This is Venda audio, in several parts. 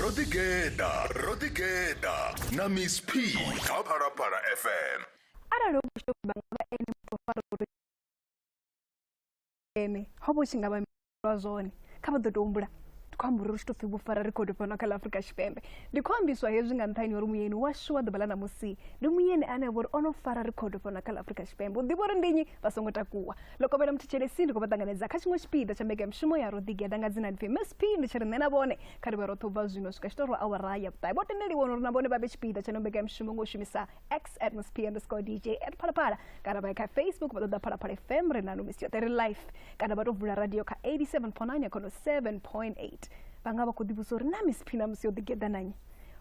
ro ḓigeḓa ro ḓigeḓa na miss p kha phalaphala fm arali hu tshi vha nga vha ene muthu fara uri ene ho vha tshi nga vha lwa zwone kha vha ḓo tou humbula ndi khou amba uri ri tshi tou pfhi vhufara rekhodo fhano kha ḽa afurika tshipembe ndi khou ambiswa hezwi nga nṱhani uri muyeni washu wa ḓuvha ḽa ṋamusi ndi muyeni ane a vha uri o no fara rekhodo fhano kha ḽa afurika tshipembe u ḓivha uri ndi nnyi vha songo takuwa ḽo kovhela muthetshelesi ndi khou vha ṱanganedza kha tshiṅwe tshipiḓa tsha mbekanyamushumo ya ro ḓigeda nga dzina lipfi msp ndi tshi ri nṋe na vhone kha ri vhe roṱhe u bva zwino swika tshitorwa awara ya vhuṱahe vho tendeliwa uri na vhone vha vhe tshipiḓa tsha no mbekanyamushumo nga u shumisa x at msp underscore dj at phalaphala kana vha ye kha facebook vha ṱoḓa phalaphala fm ri nanu misi yoṱhe ri life kana vha tou vula radio kha 87.9 ya khono 7.8 vha nga vha khou ḓivhusa uri na msp na musi yo ḓigeḓa nanye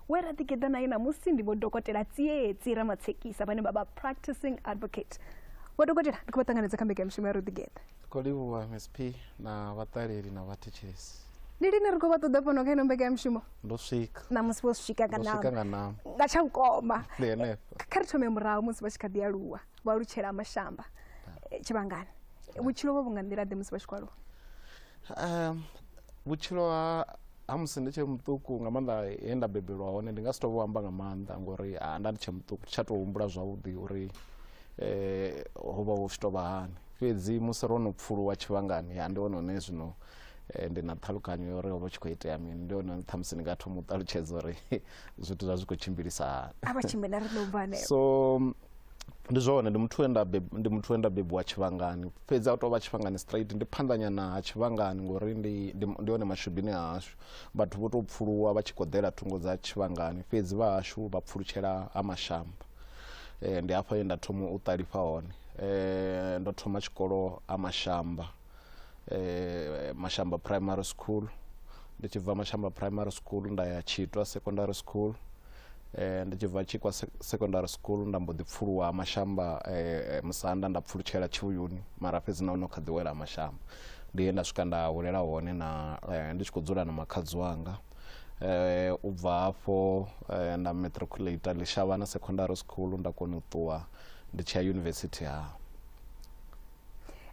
we ra ḓigeḓa naye ṋamusi ndi vho dokotela tsietsi ramatshekisa vhane vha vha practicing advocate vho dokotela ndi khou vha ṱanganedza kha mbekanyamushumo ya ro ḓigeḓa khou livhuwa msp na vhaṱaleli na vhathetshelesi ndi lini ri khou vha ṱoḓa fhano kha ino mbekanyamushumo ndo swika ṋamusi vho swika nga nama nga nama nga tsha vhukoma ndi henefho kha ri thome murahu musi vha tshi kha ḓi aluwa vha alutshela mashamba eh, tshivhangani vhutshilo vho vhu nga nḓila ḓe musi vha tshi khou aluwa um vhutshilo ha ha musi ndi tshe muṱuku nga maanḓa he nda bebelwa hone ndi nga si tou vho amba nga maanḓa ngori ha nda ndi tshe muṱuku tsha tou humbula zwavhuḓi uri eh, ho vha hu tshi tou vha hani fhedzi musi ro no pfuluwa tshivhangani ya ndi hone hone zwino eh, ndi na ṱhalukanyo ya uri ho vha tshi khou itea mini ndi hone ṱhamusi ndi nga thoma u ṱalutshedza uri zwithu zwa zwi khou tshimbilisa hani a vha tshimbila ri ḽo bva hanefho so ndi zwone ndi muthu we nda beb- ndi muthu we nda bebiwa tshivhangani fhedzi a u tou vha tshivhangani straight ndi phanḓanyana ha tshivhangani ngori ndi ndi ndi hone mashubini hashu vhathu vho tou pfuluwa vha tshi koḓela thungo dza tshivhangani fhedzi vha hashu vha pfulutshela ha mashamba eh, ndi hafho he nda thoma u ṱalifha hone eh, ndo thoma tshikolo ha mashamba eh, mashamba primary school ndi tshi bva mashamba primary school nda ya tshitwa secondary school eh, ndi tshi bva tshikwa se- secondary school nda mbo ḓi pfuluwa mashamba eh, musanda nda pfulutshela tshivhuyuni mara fhedzi na ono kha ḓiwela mashamba ndi he nda swika nda hulela hone na eh, ndi tshi khou dzula na makhadzi wanga eh, u bva hafho eh, nda matriculate ḽishavhana secondary school nda kona u ṱuwa ndi tshi ya yunivesithi ha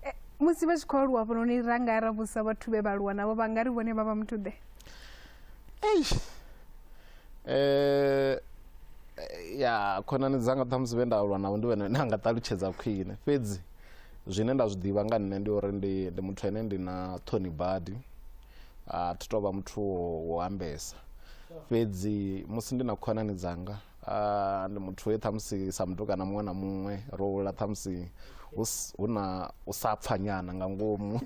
Eh, musi vha tshi khou aluwa vhononi ra nga ra vhusa vhathu vhe vha aluwa navho vha nga ri vhone vha vha muthu ḓe eish eh ya khonani dzanga ṱhamusi vhe nda aluwa navho ndi vhene nda nga ṱalutshedza khwine fhedzi zwine nda zwi ḓivha nga nṋe ndi uri ndi ndi muthu ane ndi na ṱhoni badi a thi tovha muthu wo ambesa fhedzi musi ndi na khonani dzanga Ah, ndi muthu we ṱhamusi sa mutukana muṅwe na muṅwe ro hula ṱhamusi hu s- hu na u sa pfa nyana nga ngomu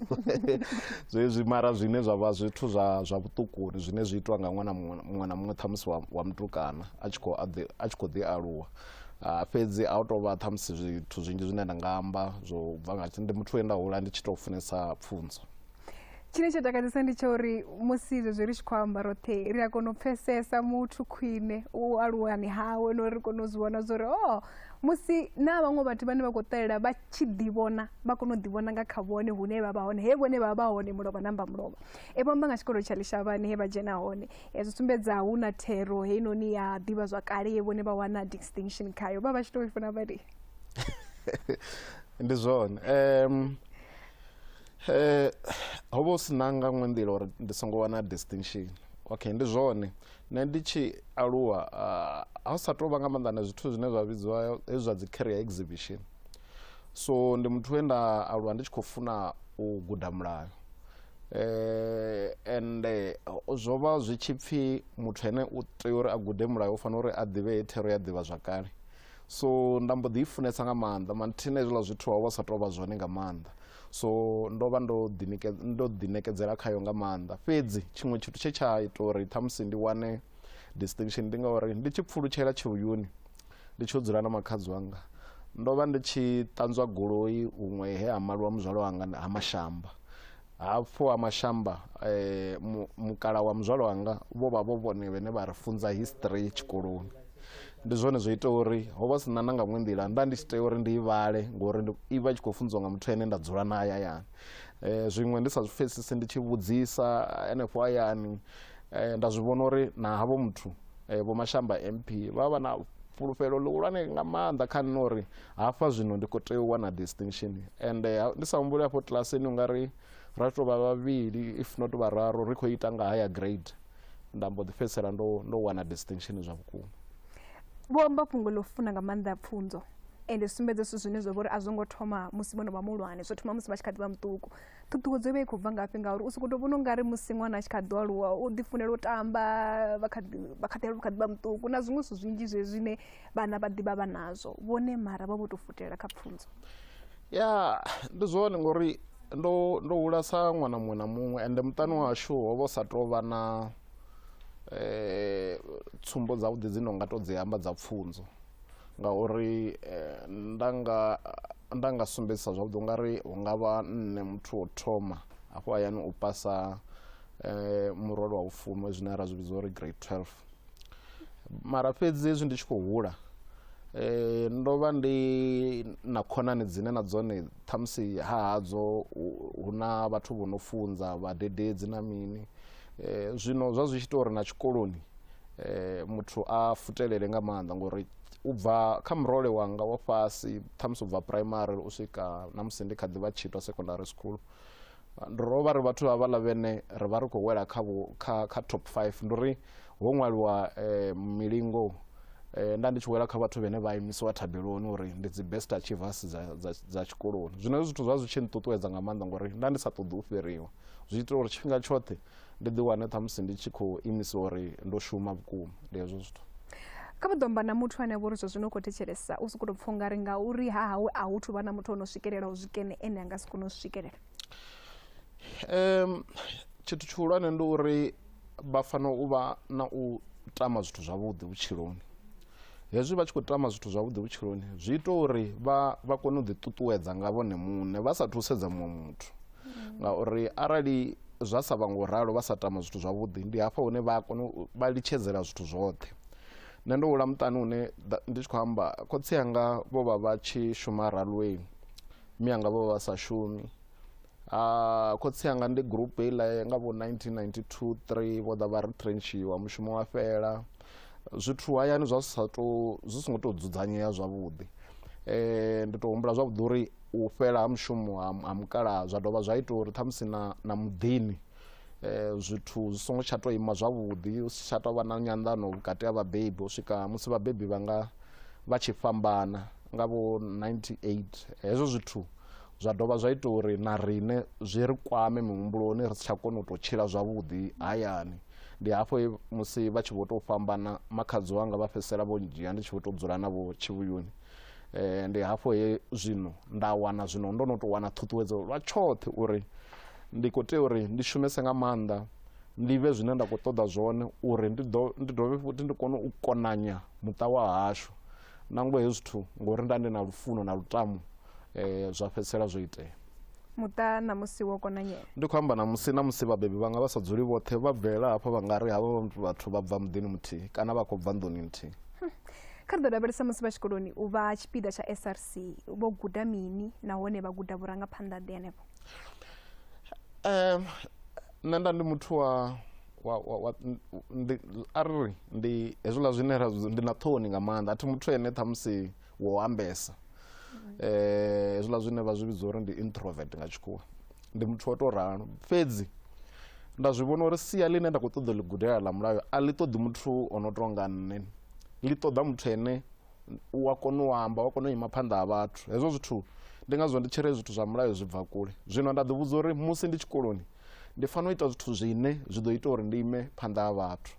zwezwi mara zwine zwa vha zwithu zwa zwa vhuṱukuni zwine zwi itwa nga ṅwana muṅwe na- muṅwe na muṅwe ṱhamusi wa, wa mutukana a tshi khou a ḓi- a tshi khou ḓi aluwa Ah, fhedzi a u tou vha ṱhamusi zwithu zwinzhi zwine nda nga amba zwo bva nga ndi muthu we nda hula ndi tshi tou funesa pfunzo tshine tsho takadzesa ndi tsha uri musi zwezwi ri tshi khou amba roṱhe ri a kona u pfesesa muthu khwine u aluwani hawe no ri kone u zwi vhona zwori o oh, musi na vhaṅwe vhathu vhane vha khou ṱalela vha tshi ḓivhona vha kone u ḓivhona nga kha vhone hune vha vha hone he vhone vha vha hone mulovha namba mulovha e vhamba nga tshikolo tsha ḽishavhani he vha dzhena hone e zwi sumbedza hu na thero heinoni ya ḓivha zwa kale ye vhone vha wana distinction khayo vha vha tshi to i funa vhali ndi zwone um Eh, ho vha u si na nga ṅwe nḓila uri ndi songo wana distinction okay ndi zwone nṋe ndi tshi aluwa ah, ha sa tou vha nga maanḓa na zwithu zwine zwa vhidziwa hezwi zwa dzi carrier exhibition so ndi muthu we nda aluwa ndi tshi khou funa u guda mulayo eh and eh, zwo vha zwi tshi pfhi muthu ene u tea uri a gude mulayo u fanela uri a ḓivhe he thero ya ḓivha zwakale so nda mbo ḓi i funesa nga maanḓa manthina hezwiḽa zwithu ho vha sa tou vha zwone nga maanḓa so ndo vha ndo ndo ḓiṋekedzela khayo nga maanḓa fhedzi tshiṅwe tshithu tshe tsha ita uri ṱhamusi ndi wane distinction ndi ngauri ndi tshi pfulutshela tshivhuyuni ndi tshi yo dzula na makhadzi wanga ndo vha ndi tshi ṱanzwa goloi huṅwe he ha maliwa muzwala wanga ha mashamba hafhu ha mashamba eh, mu- mukala wa muzwalo wanga vho vha vho vhone vhene vha ri funza history tshikoloni ndi zwone zwo ita uri ho vha sina na nga ṅwe nḓila nda ndi tshi tea uri ndi i vhale ngori ndi- i vha i tshi khou funziwa nga muthu ene nda dzula na hayani eh, zwiṅwe ndi sa zwi pfesesi ndi tshi vhudzisa henefho hayani eh, nda zwi vhona uri na havho muthu Eh, vho mashamba mp vha vha na fhulufhelo ḽihulwane nga maanḓa kha nṋe uri hafha zwino ndi khou tea u wana distinction and eh, ndi sa humbuli hafho kilasini u nga ri ra tou vha vhavhili if not vhararu ri khou ita nga haya grade nda mbo ḓi fhedzisela ndo ndo wana distinction zwa vhukuma vho amba fhungo ḽo funa nga maanḓa pfunzo ende sumbedza zwithu zwine zwa vha uri a zwo ngo thoma musi vho no vha muhulwane zwo thoma musi vha tshi kha ḓi vha muṱuku ṱhuṱhuwedzo i vha i khou bva ngafhi ngauri u sokou tou vhona u nga ri musi ṅwana a tshi kha ḓi aluwa u ḓifunela u tamba vha kha ḓi vha kha ḓi aluwa vha kha ḓi vha muṱuku na zwiṅwe zwithu zwinzhi zwe zwine vhana vha ḓivha vha nazwo vhone mara vha vho tou futela kha pfunzo ya ndi zwone ngori ndo ndo hula sa ṅwana muṅwe na muṅwe ende muṱani washu ho vha u sa tou vha na um tsumbo dzavhuḓi dzi no nga tou dzi amba dza pfunzo ngauri eh, nda nga nda nga sumbedzisa zwavhuḓi u nga ri hu nga vha nṋe muthu wo thoma afho hayani u pasa eh, murole wa vhufumi zwine ra zwi vhidza uri grade 12 mara fhedzi hezwi ndi tshi khou hula eh, ndo vha ndi na khonani dzine na dzone ṱhamusi hahadzo hu na vhathu vho no funza vhadededzi na mini eh, zwino zwa zwi tshi ita uri na tshikoloni eh, muthu a futelele nga maanḓa ngori u bva kha murole wanga wa fhasi ṱhamusi u bva primary u swika na musi ndi kha ḓi vha tshitwa secondary school ndi ro vha ri vhathu vha vhala vhene ri vha ri khou wela kha, kha, kha top 5 ndi uri ho ṅwaliwa eh, milingo eh, nda ndi tshi wela kha vhathu vhene vha imisiwa thabeloni uri ndi dzi best achievers dza, dza, dza tshikoloni zwino zwithu zwa zwi tshi nṱuṱuwedza nga maanḓa ngori nda ndi sa ṱoḓi u fhiriwa zwi ita uri tshifhinga tshoṱhe ndi ḓi wane ṱhamusi ndi tshi khou imisiwa uri ndo shuma vhukuma ndi hezwo zwithu kha vha ḓo amba na muthu ane vha uri zwa zwino u khou thetshelesa u sokou tou pfha ungari ngauri ha hawe a hu thu vha na muthu o no swikelela u zwikene ene a nga si kone u swikelela um tshithu tshihulwane ndi uri vha fanela u vha na u tama zwithu zwavhuḓi vhutshiloni hezwi vha tshi khou tama zwithu zwavhuḓi vhutshiloni zwi ita uri vha vha kone u ḓiṱuṱuwedza nga vhone muṋe vha sa thusedza muṅwe muthu mm. ngauri arali zwa sa vha ngo ralo vha sa tama zwithu zwavhuḓi ndi hafha hune vha kona vha litshedzela zwithu zwoṱhe nṋe ndo hula muṱani une ndi tshi khou amba khotsi anga vho vha vha tshi shuma ralweni mi anga vho vha vha sa shumi Ah, khotsi anga ndi group heiḽa nga vho 1992 3 vho ḓa vha ri trenchiwa mushumo wa fhela zwithu hayani zwa sa tou zwi songo tou dzudzanyea zwavhuḓi um ndi tou humbula zwavhuḓi uri u fhela ha mushumo ha mukalaha zwa dovha zwa ita uri ṱhamusi na na muḓini um zwithu zwi songo tsha tou ima zwavhuḓi hu si tsha tou vha na nyanḓano vhukati ha vhabebi u swika musi vhabebi vha nga vha tshi fhambana nga vho 98 hezwo zwithu zwa dovha zwa ita uri na riṋe zwi ri kwame mihumbuloni ri si tsha kona u tou tshila zwavhuḓi hayani ndi hafho musi vha tshi vho tou fhambana makhadzi wanga vha fhedzisela vho ndzhia ndi tshi vho tou dzula navho tshivhuyuni um ndi hafho he zwino nda wana zwino ndo no tou wana ṱhuṱhuwedzo lwa tshoṱhe uri ndi khou tea uri ndi shumese nga maanḓa ndi vhe zwine nda khou ṱoḓa zwone uri ndi dovhe futhi ndi kone u konanya muṱa wa hashu Nangwe hezwi zwithu ngori nda ndi na lufuno na lutamo eh, zwa fhedzisela zwo itea. Muṱa ṋamusi wo konanyela. Ndi khou amba ṋamusi ṋamusi vhabebi vhanga vha sa dzuli vhoṱhe vha bvelela hafha vha nga ri havha vhathu vha bva muḓini muthihi kana vha khou bva nḓuni nthihi. Hm. Kha ri ḓo lavhelesa musi vha tshikoloni u vha tshipiḓa tsha SRC vho guda mini nahone vha guda vhurangaphanḓa ḓe henefho. Um, nṋe nda ndi muthu wa wa, wa, wa, n- ndi arri ndi hezwiḽa zwine ra zwi- ndi na ṱhoni nga maanḓa a thi muthu ene ṱhamusi wo ambesa eh hezwiḽa zwine vha zwi vhidza uri ndi introvert nga tshikhuwa ndi muthu wa tou ralo fhedzi nda zwi vhona uri sia ḽine nda khou ṱoḓa u ḽi gudela ḽa mulayo a ḽi ṱoḓi muthu o no tou nga nṋe ḽi ṱoḓa muthu ene u a kona u amba u a kona u ima phanḓa ha vhathu hezwo zwithu ndi ngazwo ndi tshi ri zwithu zwa mulayo zwi bva kule zwino nda ḓivhudza uri musi ndi tshikoloni ndi fanela u ita zwithu zwine zwi ḓo ita uri ndi ime phanḓa ha vhathu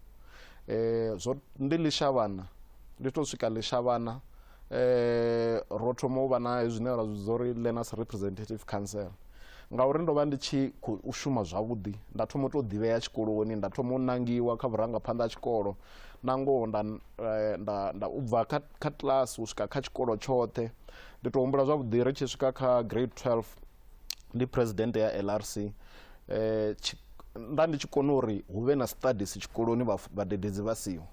eh, zwo ndi ḽishavhana ndi to swika ḽishavhana eh, ro thoma u vha na zwine ra zwidza uri learners representative council ngauri ndo vha ndi tshi khou shuma zwavhuḓi nda thoma u tou ḓivhea tshikoloni nda thoma u nangiwa kha vhurangaphanḓa ha tshikolo na ngoho nda, eh, nda, nda u bva kha, kha class u swika kha tshikolo tshoṱhe ndi tou humbula zwavhuḓi ri tshi swika kha grade 12 ndi president ya LRC eh nda ndi tshi kona uri hu vhe na studies tshikoloni vhadededzi vha siho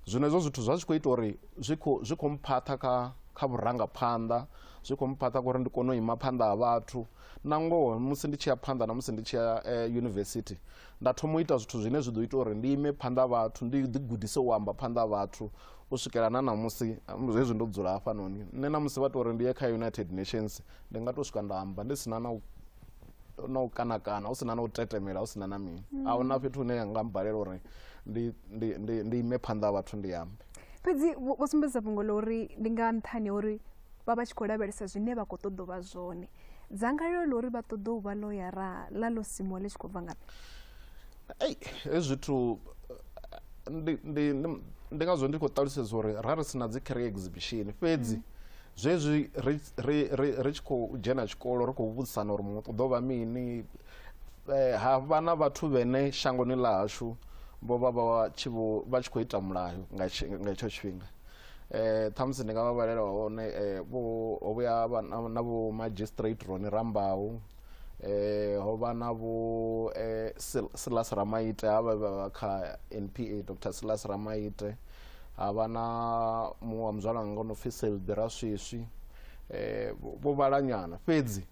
zwino hezwo zwithu zwa zwi khou ita uri zwi khou zwi khou mphaṱha kha kha vhurangaphanḓa zwi khou mphaṱha kha uri ndi kone u ima phanḓa ha vhathu na ngoho musi ndi tshi ya phanḓa na musi ndi tshi ya eh, yunivesithi nda thoma u ita zwithu zwine zwi ḓo ita uri ndi ime phanḓa vhathu ndi ḓigudise u amba phanḓa vhathu u swikela na ṋamusi hezwi ndo dzula hafhanoni nṋe ṋamusi vha tou uri ndi ye kha united nations ndi nga to swika nda amba ndi sina na u na u kana kana hu sina na u tetemela hu sina na mini mm. a huna fhethu hune nga mbalela uri ndi ndi ndi ndi ime phanḓa ha vhathu ndi ambe fhedzi vho sumbedza fhungo ḽa uri ndi nga nṱhani ha uri vha vha tshi khou lavhelesa zwine vha khou ṱoḓa vha zwone dzangalelo ḽa uri vha ṱoḓa u vha ḽoyara ḽa ḽo simuwa ḽi tshi khou bva nga ei he zwithu ndi ndi ndi ngazwo ndi khou ṱalutshedza uri ra ri sina dzi career exhibition fhedzi mm. zwezwi ri ri ri ri tshi khou dzhena tshikolo ri khou vhudzisana uri muṅwe u ḓo vha mini eh, ha vha na vhathu vhene shangoni ḽa hashu vho vha vha tshi vho vha tshi khou ita mulayo nga tshi- nga hetsho tshifhinga eh ṱhamusi ndi nga vha vhalela hone eh vho ho vhuya ha vha na- na vho magistrate roni rambaho eh ho vha na vho eh, Silas Ramaite ha vha vha kha NPA Dr Silas Ramaite ha vha na muṅwe wa muzwala wanga o no pfi Selbi Raswiswi eh vho vhalanyana fhedzi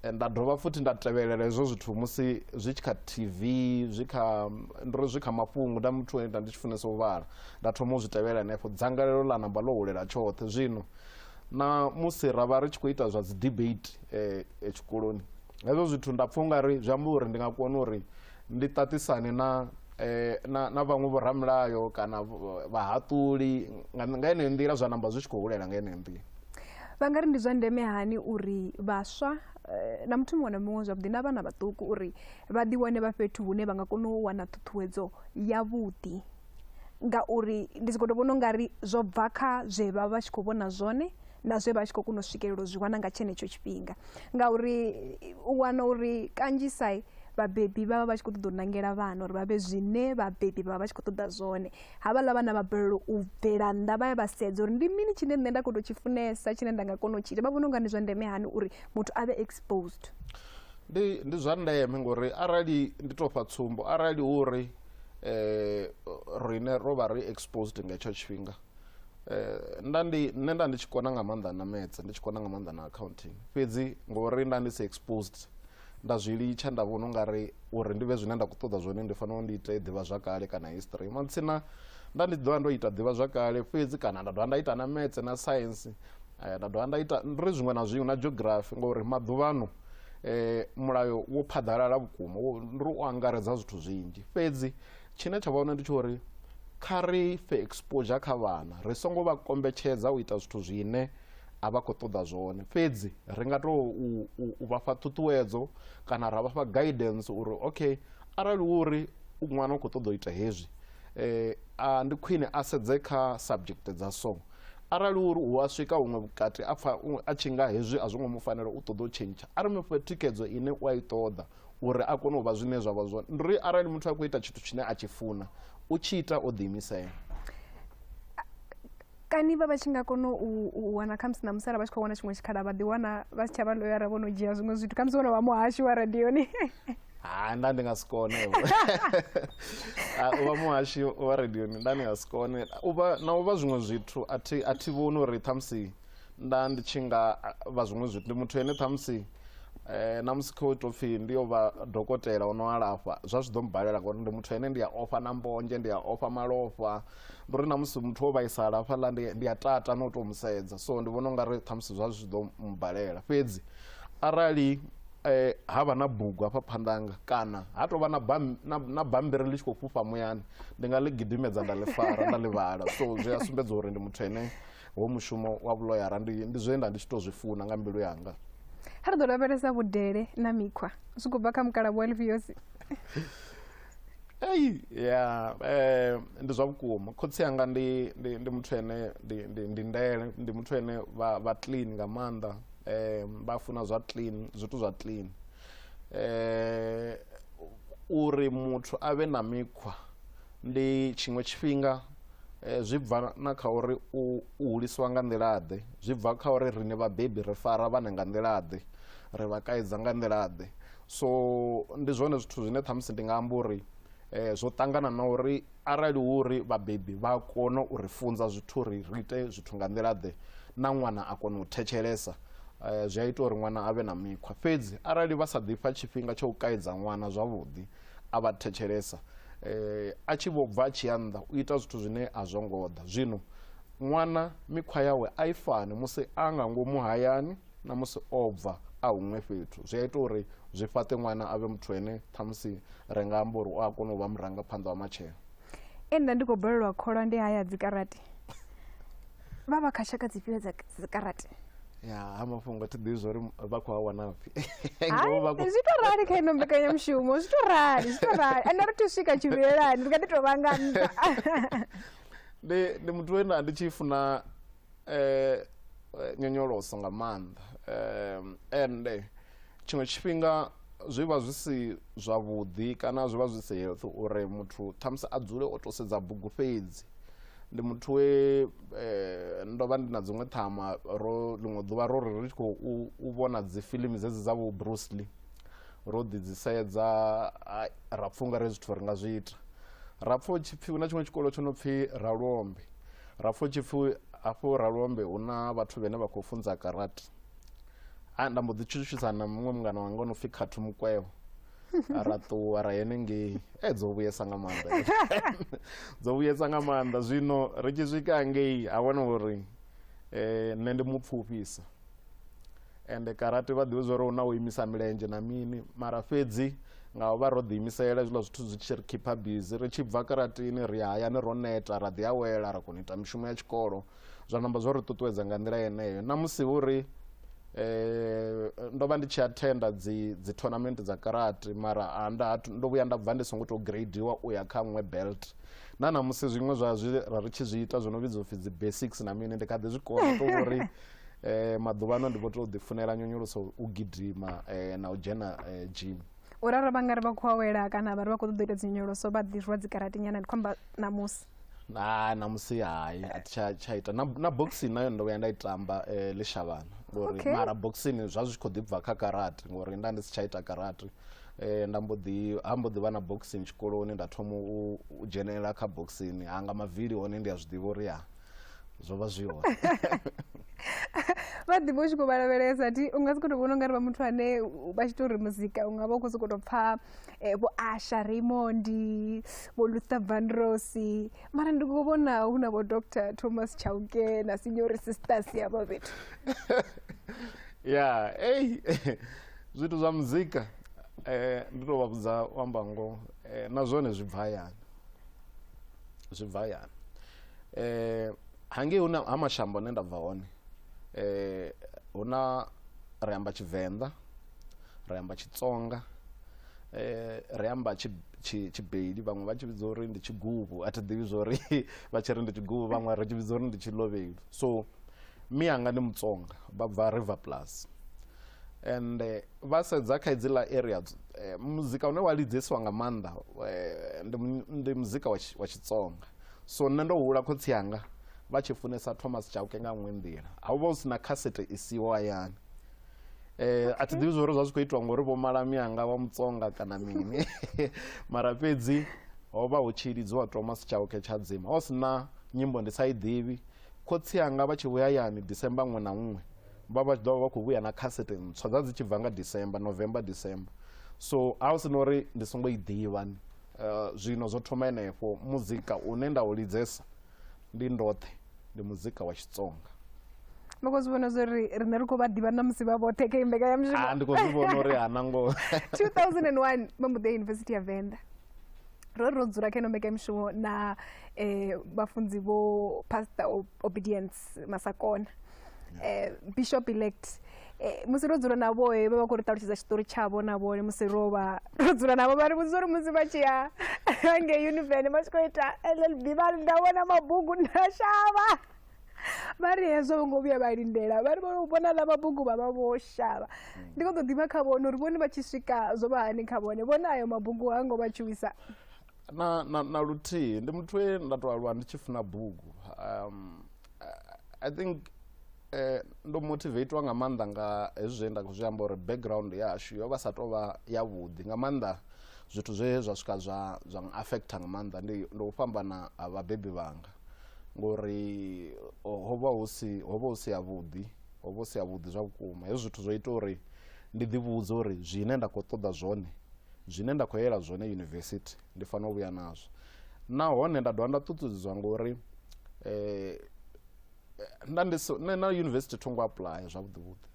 eh, nda dovha futhi nda tevhelela hezwo zwithu musi zwi tshi kha tv zwi kha ndiri zwi kha mafhungo nda muthu enda ndi tshi funesa u vhala nda thoma u zwi tevhelela henefho dzangalelo ḽa namba ḽo hulela tshoṱhe zwino na musi ra vha ri tshi khou ita zwa dzi debate eh, eh, tshikoloni hezwo zwithu nda pfha ungari zwi amba uri ndi nga kona uri ndi ṱaṱisane na eh, na, na vhaṅwe vhoramilayo kana vh- vhahaṱuli nga nga yeneyo nḓila zwa namba zwi tshi khou hulela nga yeneyo nḓila vha nga ri ndi zwa ndeme hani uri vhaswa eh, na muthu muṅwe na muṅwe zwavhuḓi na vhana vhaṱuku uri vha ḓiwane vha fhethu hune vha nga kona u wana ṱhuṱhuwedzo yavhuḓi ngauri ndi sokou tou vhona u nga ri zwo bva kha zwe vha vha tshi khou vhona zwone na zwe vha tshi khou kona u swikelela u zwi wana nga tshenetsho tshifhinga ngauri u wana uri kanzhisa vhabebi vha vha vha tshi khou ṱoḓa u nangela vhana uri vha vhe zwine vhabebi vha vha vha tshi khou ṱoḓa zwone havhaḽa vhana vha balelwa u bvela nnḓa vha ya vha sedza uri ndi mini tshine nṋe nda khou tou tshi funesa tshine nda nga kona u tshi ita vha vhona u nga ndi zwa ndeme hani uri muthu a vhe exposed ndi ndi zwa ndeme ngori arali ndi tou fha tsumbo arali hu uri eh rine ro vha ri exposed nga tsho tshifhinga eh nda ndi nne nda ndi tshi kona nga maanḓa na maths ndi tshi kona nga maanḓa na accounting fhedzi ngori nda ndi si exposed nda zwi litsha nda vhona ungari uri ndi vhe zwine nda khou ṱoḓa zwone ndi fanela ndi ite ḓivha zwakale kana history matsina nda ndi ḓovha ndo ita ḓivha zwakale fhedzi kana nda dovha nda ita na maths na science eh, nda dovha nda ita ri zwiṅwe na zwiṅwe na geography ngori maḓuvhano eh, mulayo wo phaḓalala vhukuma ndi ri u angaredza zwithu zwinzhi fhedzi tshine tsha vha hone ndi tsho uri kha ri fe exposure kha vhana ri songo vha kombetshedza u ita zwithu zwine a vha khou ṱoḓa zwone fhedzi ri nga tou u vha fha ṱhuṱhuwedzo kana ra vha fha guidance uri okay arali wo uri ṅwana u khou ṱoḓa u ita hezwi um ndi khwine a sedze kha subject dza so arali uri u a swika huṅwe vhukati a pfa a tshi nga hezwi a zwo ngo mu fanela u ṱoḓa u tshentsha a ri mu fhe thikedzo ine u a i ṱoḓa uri a kone u vha zwine zwa vha zwone ndi uri arali muthu a khou ita tshithu tshine a tshi funa u tshi ita o ḓiimisela kani vha vha tshi nga kona u wana khamusi na musala vha tshi khou wana tshiṅwe tshikhala vha ḓiwana vha si tsha vha loyara vho no dzhia zwiṅwe zwithu khamusi vho no vha muhashu wa radioni ha nda ndi nga si kone vho. Ah, u vha muhashi wa radioni nda ndi nga si kone u vha na u vha zwiṅwe zwithu a thi a thi vhoni uri ṱhamusi nda ndi tshi nga ah, vha zwiṅwe zwithu ndi muthu ene ṱhamusi eh, na musi khou tou pfhi ndi yo vha dokotela o no alafha zwa zwi ḓo mbalela ngauri ndi muthu ene ndi a ofha na mbonzhe ndi a ofha malofha ndi uri na musi muthu o vhaisala hafhaḽa ndi, ndi a tata na u tou mu sedza so ndi vhona u nga ri ṱhamusi zwa zwi ḓo mbalela fhedzi arali eh, ha vha na bugu hafha phanḓanga kana ha tou vha na bammbiri ḽi tshi khou fhufha muyani ndi nga ḽi gidimedza nda ḽi fara nda ḽi vhala so zwi a sumbedza uri ndi muthu ene wo mushumo wa vhuloyara ndi zwe nda ndi tshi tou zwi funa nga mbilu yanga ha ri ḓo lavhelesa vhudele na mikhwa zwi khou bva kha mukalabu wa lifhiosi Ei, ya eh, ndi zwa vhukuma khotsi anga ndi, ndi, ndi muthu ene ndi, ndi, ndi ndele ndi muthu ene vha, vha clean nga maanḓa eh, vha funa zwa clean zwithu zwa clean eh, uri muthu a vhe na mikhwa ndi tshiṅwe tshifhinga eh, zwi bva na kha uri u, u hulisiwa nga nḓila-ḓe zwi bva kha uri riṋe vhabebi ri fara vhana nga nḓila-ḓe ri vha kaidza nga nḓila-ḓe So ndi zwone zwithu zwine ṱhamusi ndi nga amba uri zwo ṱangana na uri arali hu uri vhabebi vha kona u ri funza zwithu uri ri ite zwithu nga nḓila ḓe na ṅwana a kona u thetshelesa zwi a ita uri ṅwana a vhe na mikhwa fhedzi arali vha sa ḓifha tshifhinga tsha u kaidza ṅwana zwavhuḓi a vha thetshelesa a tshi vho bva a tshi ya nnḓa u ita zwithu zwine a zwo ngo ḓa zwino ṅwana mikhwa yawe a i fani musi a nga ngomu hayani na musi o bva a huṅwe fhethu zwi a ita uri zwi fhaṱe ṅwana a vhe muthu ene ṱhamusi ri nga amba uri u a kona u vha murangaphanḓa wa matshelo e nda ndi khou balelwa kholwa ndi haya dzikarate vha vha kha tshaka dzifhio dza dzikarate ya ha mafhungo thi ḓivhi zwa uri vha khou a wana pfhi zwi to rali kha ino mbekanyamushumo zwi to rali zwi to rali ende ri to swika tshivhilelani ri nga ḓi to vha nga nṱha ndi muthu we nda ndi tshi funa eh, eh, nyonyoloso nga maanḓa um, ende tshiṅwe tshifhinga zwi vha zwi si zwavhuḓi kana zwi vha zwi si health uri muthu ṱhamusi a dzule o to sedza bugu fhedzi ndi muthu we eh, ndo vha ndi na dziṅwe ṱhama ro ḽiṅwe ḓuvha ro ri ri tshi khou u- u vhona dzifilimi dzedzi dza vho bruce lee ro ḓi dzi sedza ai, ra pfha unga re zwithu ri nga zwi ita ra pfha hu tshi pfhi hu na tshiṅwe tshikolo tsho no pfhi ralombe Rafutshipfu hafhu Ralombe hu na vhathu vhene vha khou funza karate. A nda mbo ḓi tshutshisa na muṅwe mungana wanga no pfi Khathu Mukwevho. ra ṱuwa ra henengei e dzo vhuyesa nga maanḓa dzo vhuyesa nga maanḓa zwino ri tshi swika ngei ha wana uri um nṋe ndi mupfufhisa ende karate vha ḓivhe zwa uri hu na u imisa milenzhe na mini mara fhedzi nga u vha ro ḓiimisela hezwiḽa zwithu zwi tshi ri khipha bizi ri tshi bva karatini ri ya hayani ro neta ra ḓi awela ra kona u ita mishumo ya tshikolo zwa namba zwo ri ṱuṱuwedza nga nḓila yeneyo na musi vho ri eh, ndo vha ndi tshi athenda dzi dzi tournament dza karate mara a nda hatu- ndo vhuya nda bva ndi songo tou gradiwa u ya kha nwe belt na namusi zwiṅwe zwa zwi ra ri tshi zwi ita zwo no vhidzwa upfi dzi basics na mini ndi kha ḓi zwi kona u tou vhori Eh, maḓuvhano ndi vho tou ḓifunela nyonyoloso u gidima eh, na u dzhena eh, gym u ralo vha nga ri vha khou awela kana vha ri vha khou ṱoḓa u ita dzinyonyoloso vha ḓirwa dzikaratenyana ndi khou amba ṋamusi na namusi hai a thi tsha- tsha ita na, na boxing nayo ndo vhuya nda i tamba eh, ḽishavhana ngori Okay. mara boxing zwa zwi tshi khou ḓi bva kha karate ngori nda ndi si tsha ita karate eh, nda mbo ḓi ha mbo ḓi vha na boxing tshikoloni nda thoma u, u dzhenelela kha boxing hanga mavili hone ndi a zwi ḓivha uri ya zwo vha zwi hone vha ḓivha u tshi khou vhalavhelesa ti u nga si khou tou vhona u nga ri vha muthu ane vha tshi tou ri muzika u nga vha u khou sokou tou pfa eh, vho asha raymondi vho luther vanrosi mara ndi khou vhona hu na vho dr thomas chauke na sinyori sisters yavho fhethu ya ei zwithu zwa muzika eh, ndi tou vha vhudza u amba ngoho eh, na zwone zwi bva hayani zwi bva hayani eh hangei huna ha mashambo hune nda bva hone eh huna ri amba tshivenḓa ri amba tshitsonga eh ri amba tshibeli vhaṅwe vha tshi vhidza uri ndi tshiguvhu a thi ḓivhi zwori vha tshi ri ndi tshiguvhu vhaṅwe ri tshi vhidza uri ndi tshilovheli so mi anga ndi mutsonga vha bva river plus and eh, vha sedza kha idziḽa area eh, muzika une wa lidzesiwa nga maanḓa eh, ndi muzika wa tshitsonga So nṋe ndo hula khotsi anga vha tshi funesa Thomas Chauke nga nngwe nḓila. A hu vha hu si na khasete i siho hayani. A thi ḓivhi zwa uri zwa zwi khou itiwa ngori vho mala mianga vha Mutsonga kana mini mara fhedzi ho vha hu tshi lidziwa Thomas Chauke Tshadzima. Ho si na nyimbo ndi sa i ḓivhi. Khotsi anga vha tshi vhuya hayani December nngwe na nngwe vha vha tshi ḓo vha vha khou vhuya na khasete ntswa. Dza dzi tshi bva nga December, November, December. So ha hu si na uri ndi songo i ḓivha Eh, zwino zwo thoma henefho muzika une nda u lidzesa ndi ndoṱhe ndi muzika wa xitsonga ndi khou zwi vhona zwo ri riṋe ri khou vha ḓivha na musi vha vhoṱhe kha imbekanyamushumo ah, ndi khou zwi vhona uri hana ngo 2001 vha mbuḓe yunivesithi ya venḓa ro ri ro dzula kha ino mbekanyamushumo na um vhafunzi vho pastor obedience masakona um bishop elect Eh, musi ro dzula na vhoe vha vha khou ri ṱalutshedza tshiṱori tshavho na vhone musi ro vha ro dzula navho vha ri vhudzisa uri musi vha tshi ya ngei univene vha tshi khou ita llb vha ri nda vhona mabugu nda shavha vha ri hezwo vho ngo vhuya vha lindela vha ri vho vhona ḽa mabugu vha vha vho shavha ndi khou ḓo ḓivha kha vhone uri vhone vha tshi swika zwo vha hani kha vhone vhone ayo mabugu ha ngo vha tshuwisa na, na, na luthihi ndi muthu we nda tou aluwa ndi tshi funa bugu um, I- i think Eh, ndo motivateiwa nga maanḓa nga hezwi zwe nda khou zwi amba uri background yashu yo vha sa tou vha yavhuḓi nga maanḓa zwithu zwe zwa swika zwa zwa affecta nga maanḓa ndi u fhambana ha vhabebi vhanga ngori ho vha hu si ho vha hu si yavhuḓi ho vha hu si yavhuḓi zwa vhukuma hezwi zwithu zwo ita uri ndi ḓivhudze uri zwine nda khou ṱoḓa zwone zwine nda khou yela zwone yunivesithi ndi fanela u vhuya nazwo nahone nda dovha nda ṱuṱuwedzwa ngori um eh, nda ndi so nṋe na yunivesithi tho ngo apuḽaya zwavhuḓi vhuḓi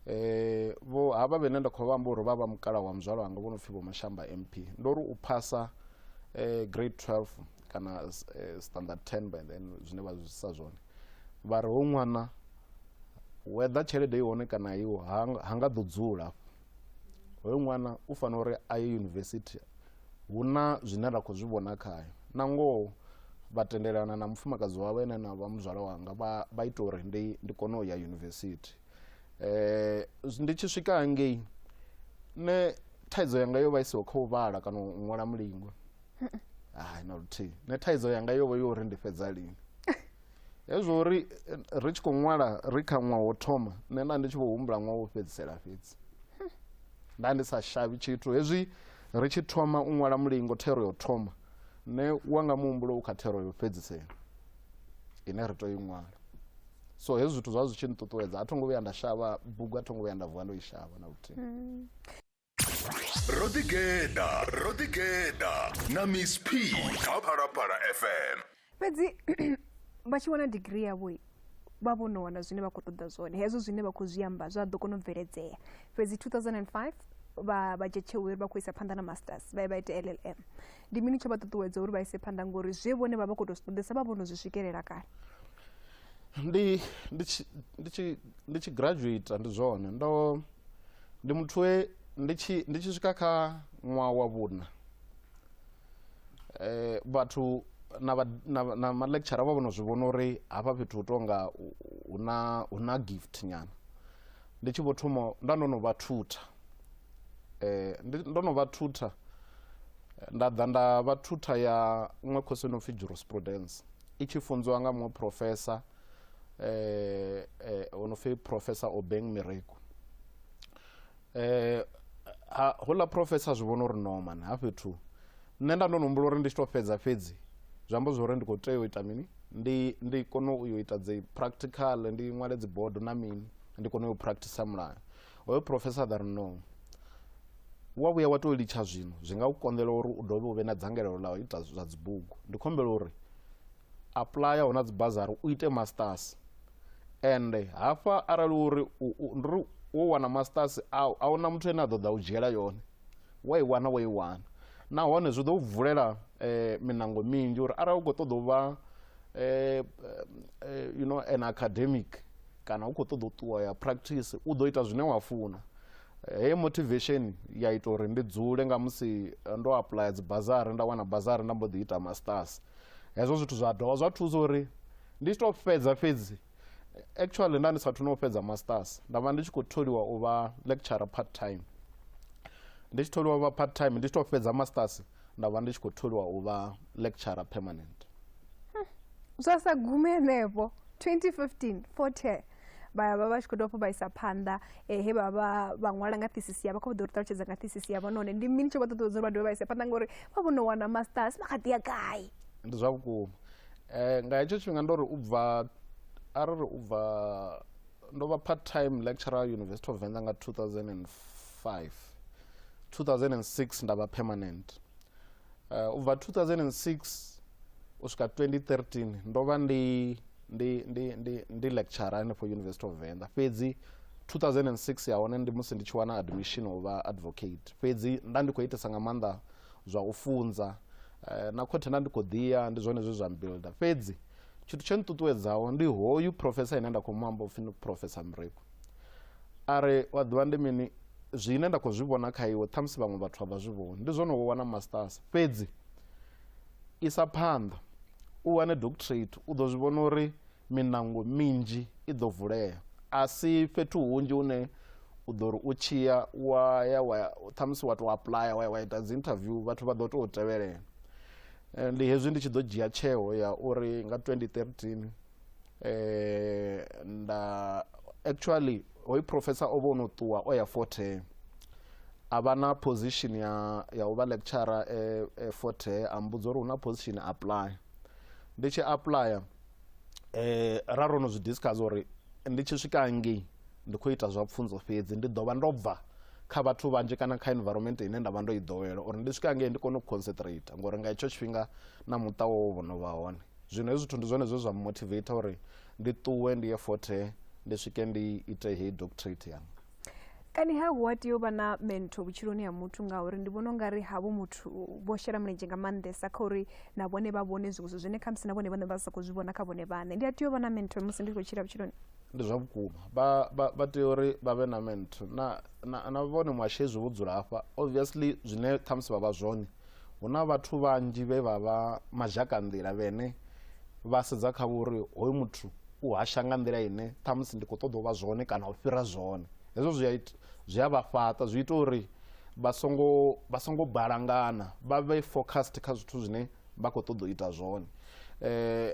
eh vho havha vhene nda khou vha amba uri vha vha mukala wa muzwala wanga vho no pfhi vho mashamba mp ndo ri u phasa eh grade 12 kana eh, standard 10 by then zwine vha zwi sa zwone vha ri ho ṅwana whether tshelede i hone kana iwo ha nga ḓo dzula hoyo ṅwana u fanela uri a ye yunivesithi hu na zwine ra khou zwi vhona khayo na ngoho vha tendelana na mufumakadzi wawe ene na vha muzwala wanga vha ita uri ndi ndi kone u ya yunivesithi um ndi tshi swika hangei nṋe thaidzo yanga yo vha i siho kha u vhala kana u ṅwala mulingwa hai na luthihi nṋe thaidzo yanga yo vha yo uri ndi fhedza lini hezwo ri ri tshi khou ṅwala ri kha ṅwaha wo thoma nṋe nda ndi tshi vho humbula ṅwaha wo fhedzisela fhedzi nda ndi sa shavhi tshithu hezwi ri tshi thoma u ṅwala mulingo thero yo thoma nṋe wa nga muhumbulo u kha thero yo fhedzisela ine ri tou i ṅwala so hezwi zwithu zwa zwi tshi nṱuṱuwedza a tho ngo vhuya nda shavha bugu a tho ngo vhuya nda vuwa ndo i shavha na luthihi mm. ro ḓigeḓa ro ḓigeḓa na miss p kha phalaphala fm fhedzi vha tshi wana digiri yavho vha vho no wana zwine vha khou ṱoḓa zwone hezwo zwine vha khou zwi amba zwa ḓo kona u bveledzea fhedzi 2005 vha vha dzhia tsheo uri vha khou isa phanḓa na masters vha ye vha ite llm ndi mini tsho vha ṱuṱuwedza uri vha ise phanḓa ngori zwe vhone vha vha khou tou zwi ṱoḓesa vha vho no zwi swikelela kale ndi ndi tshi ndi tshi ndi tshi graduate ndi zwone ndo ndi muthu we ndi tshi ndi tshi swika kha ṅwaha wa vhuṋa eh vhathu na na na ma lecture vha vhono zwi vhona uri hafha fhethu hu tonga hu na hu na gift nyana ndi tshi vho thoma nda ndo no vha thutha eh ndo no vha thutha nda ḓa nda vha thutha ya ṅwe khosi no pfi jurisprudence i tshi funziwa nga muṅwe professor eh eh ono fe professor obeng mireku eh ha hola professor zwi vhona uri no man ha fhethu nṋe nda ndo nombula uri ndi tshi to fhedza fhedzi zwi amba zwori ndi kho tea u ita mini ndi ndi kone u yo ita dzi practical ndi ṅwale dzi bodo na mini ndi kone u practice mulayo hoyo professor that no wa vhuya wa to litsha zwino zwi nga u konḓela uri u dovhe u vhe na dzangalelo ḽa u ita zwa dzibugu ndi khombela uri apuḽaya hu na dzi bazari u ite masters ende hafha arali uri ndi uri wo wana masters au a huna muthu ane a ḓo ḓa u dzhiela yone wa i wana wa i wana nahone zwi ḓo vulela eh, minango minzhi uri arali u khou ṱoḓa u vha eh, eh, you know an academic kana u khou ṱoḓa u ṱuwa ya practice u ḓo ita zwine wa funa heyo motivation ya ita uri ndi dzule nga musi eh, ndo aplya dzibazari nda wana bazari nda mbo ḓi ita masters hezwo zwithu zwa dovha zwa thusa uri ndi tshi tou fhedza fhedzi eh, actually nda ndi sathu no fhedza masters nda vha ndi tshi khou tholiwa u vha lecturer part time ndi tshi tholiwa u vha part time ndi tshi tou fhedza masters nda vha ndi tshi khou tholiwa u vha lecturer permanent zwa sa gume henefho 2015 40 vha vha vha tshi khou tou vha isa phanḓa eh, he vha vha vha ṅwala nga thesis yavho kha vha ḓo ri ṱalutshedza nga thesis yavho nahone ndi mini tsho vha ṱuṱuwedza uri vha dovhe vha ise phanḓa ngori vha vho no wana masters vha kha ḓi ya gai ndi zwa vhukuma eh, nga hetsho tshifhinga ndo ri u bva arali u bva ndo vha part time lecturer university of venḓa nga 2005 5 2006 nda vha permanent uh, ubva 2006 u swika 2013 ndo vha ndi ndi ndi ndi ndi lecturer hanefho university of venḓa fhedzi 2006 ya hone ndi musi ndi tshi wana admission u vha advocate fhedzi nda ndi khou itesa nga maanḓa zwa u funza uh, na khothe nda ndi khou ḓiya ndi zwone zwe zwa mbuilda fhedzi tshithu tsho nṱuṱuwedzaho ndi hoyu professor ine nda khou mu amba upfhi ndi professor mreko a re wa ḓivha ndi mini zwine nda khou zwi vhona kha iwe ṱhamusi vhaṅwe vhathu a vha zwi vhoni ndi zwone wo wana masters fhedzi isa phanḓa u wane doctorate u ḓo zwi vhona uri minango minzhi i ḓo vulea a si fhethu hunzhi hune u ḓo ri u tshiya wa ya wa ṱhamusi wa tou aplaya wa ya wa ita dzi interview vhathu vha ḓo tou tevhelela eh, ndi hezwi ndi tshi ḓo dzhia tsheo ya uri nga 2013 eh nda actually hoyu professor o vho no ṱuwa o ya forte a vha na position ya ya u vha lecturer e, e forte a mbudza uri hu na position apply ndi tshi applya eh ra ro no zwi discuss uri ndi tshi swika ngei ndi khou ita zwa pfunzo fhedzi ndi ḓo vha ndo bva kha vhathu vhanzhi kana kha environment ine nda vha ndo i ḓowela uri ndi swika ngei ndi kone u concentrate ngori nga hetsho tshifhinga na muṱa wo vho no vha hone zwino hezwi zwithu ndi zwone zwe zwa motivate uri ndi ṱuwe ndi ye fothe ndi swike ndi ite heyi doctorate yanga kani ha hu a tea u vha na mento vhutshiloni ha muthu ngauri ndi vhona ungari havho muthu vho shela mulenzhe nga maanḓesa kha uri na vhone vha vhone zwiṅwe zwithu zwine khamusi na vhone vhane vha sa khou zwi vhona kha vhone vhane ndi a tea u vha na mento musi ndi khou tshila vhutshiloni ndi zwa vhukuma vha- vha vha tea uri vha vhe na mento na na- na vhone muhashi hezwi vho dzula hafha obviously zwine khamusi vha vha zwone Hu na vhathu vhanzhi vhe vha vha mazhakanḓila vhene vha sedza kha vho uri hoyu muthu u hasha nga nḓila ine ṱhamusi ndi khou ṱoḓa u vha zwone kana u fhira zwone. Hezwo zwi a ita zwi a vha fhaṱa zwi ita uri vha songo vha songo balangana vha vhe focused kha zwithu zwine vha khou ṱoḓa u ita zwone.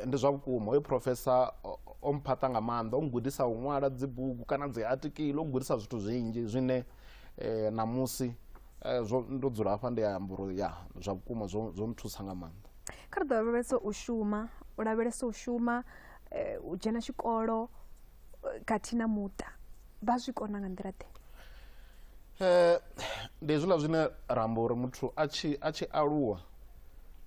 Ndi zwa vhukuma hoyu professor o mphaṱa nga maanḓa o nngudisa u ṅwala dzibugu kana dzi atikili o nngudisa zwithu zwinzhi zwine ṋamusi Eh, zwo ndo dzula hafha ndi amba uri ya zwa vhukuma zwo zwo nthusa nga maanḓa kha ri ḓo lavhelesa u shuma u lavhelesa u shuma eh, u dzhena tshikolo eh, khathihi na muṱa vha zwi kona nga nḓila ḓe Eh, ndi hezwiḽa zwine ra amba uri muthu a tshi a tshi aluwa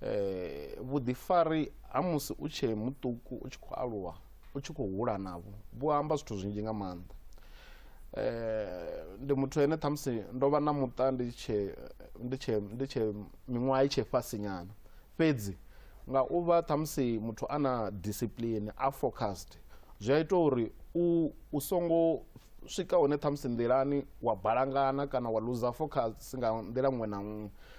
eh, vhuḓifari ha musi u tshee muṱuku u tshi khou aluwa u tshi khou hula navho vhu amba zwithu zwinzhi nga maanḓa eh, ndi muthu ene ṱhamusi ndo vha na muṱa ndi tshe ndi tshe ndi tshe miṅwaha i tshe fhasi nyana fhedzi nga u vha ṱhamusi muthu a na discipline a focused zwi a ita uri u u songo swika hone ṱhamusi nḓilani wa balangana kana wa luza focus nga nḓila ṅwe na ṅwe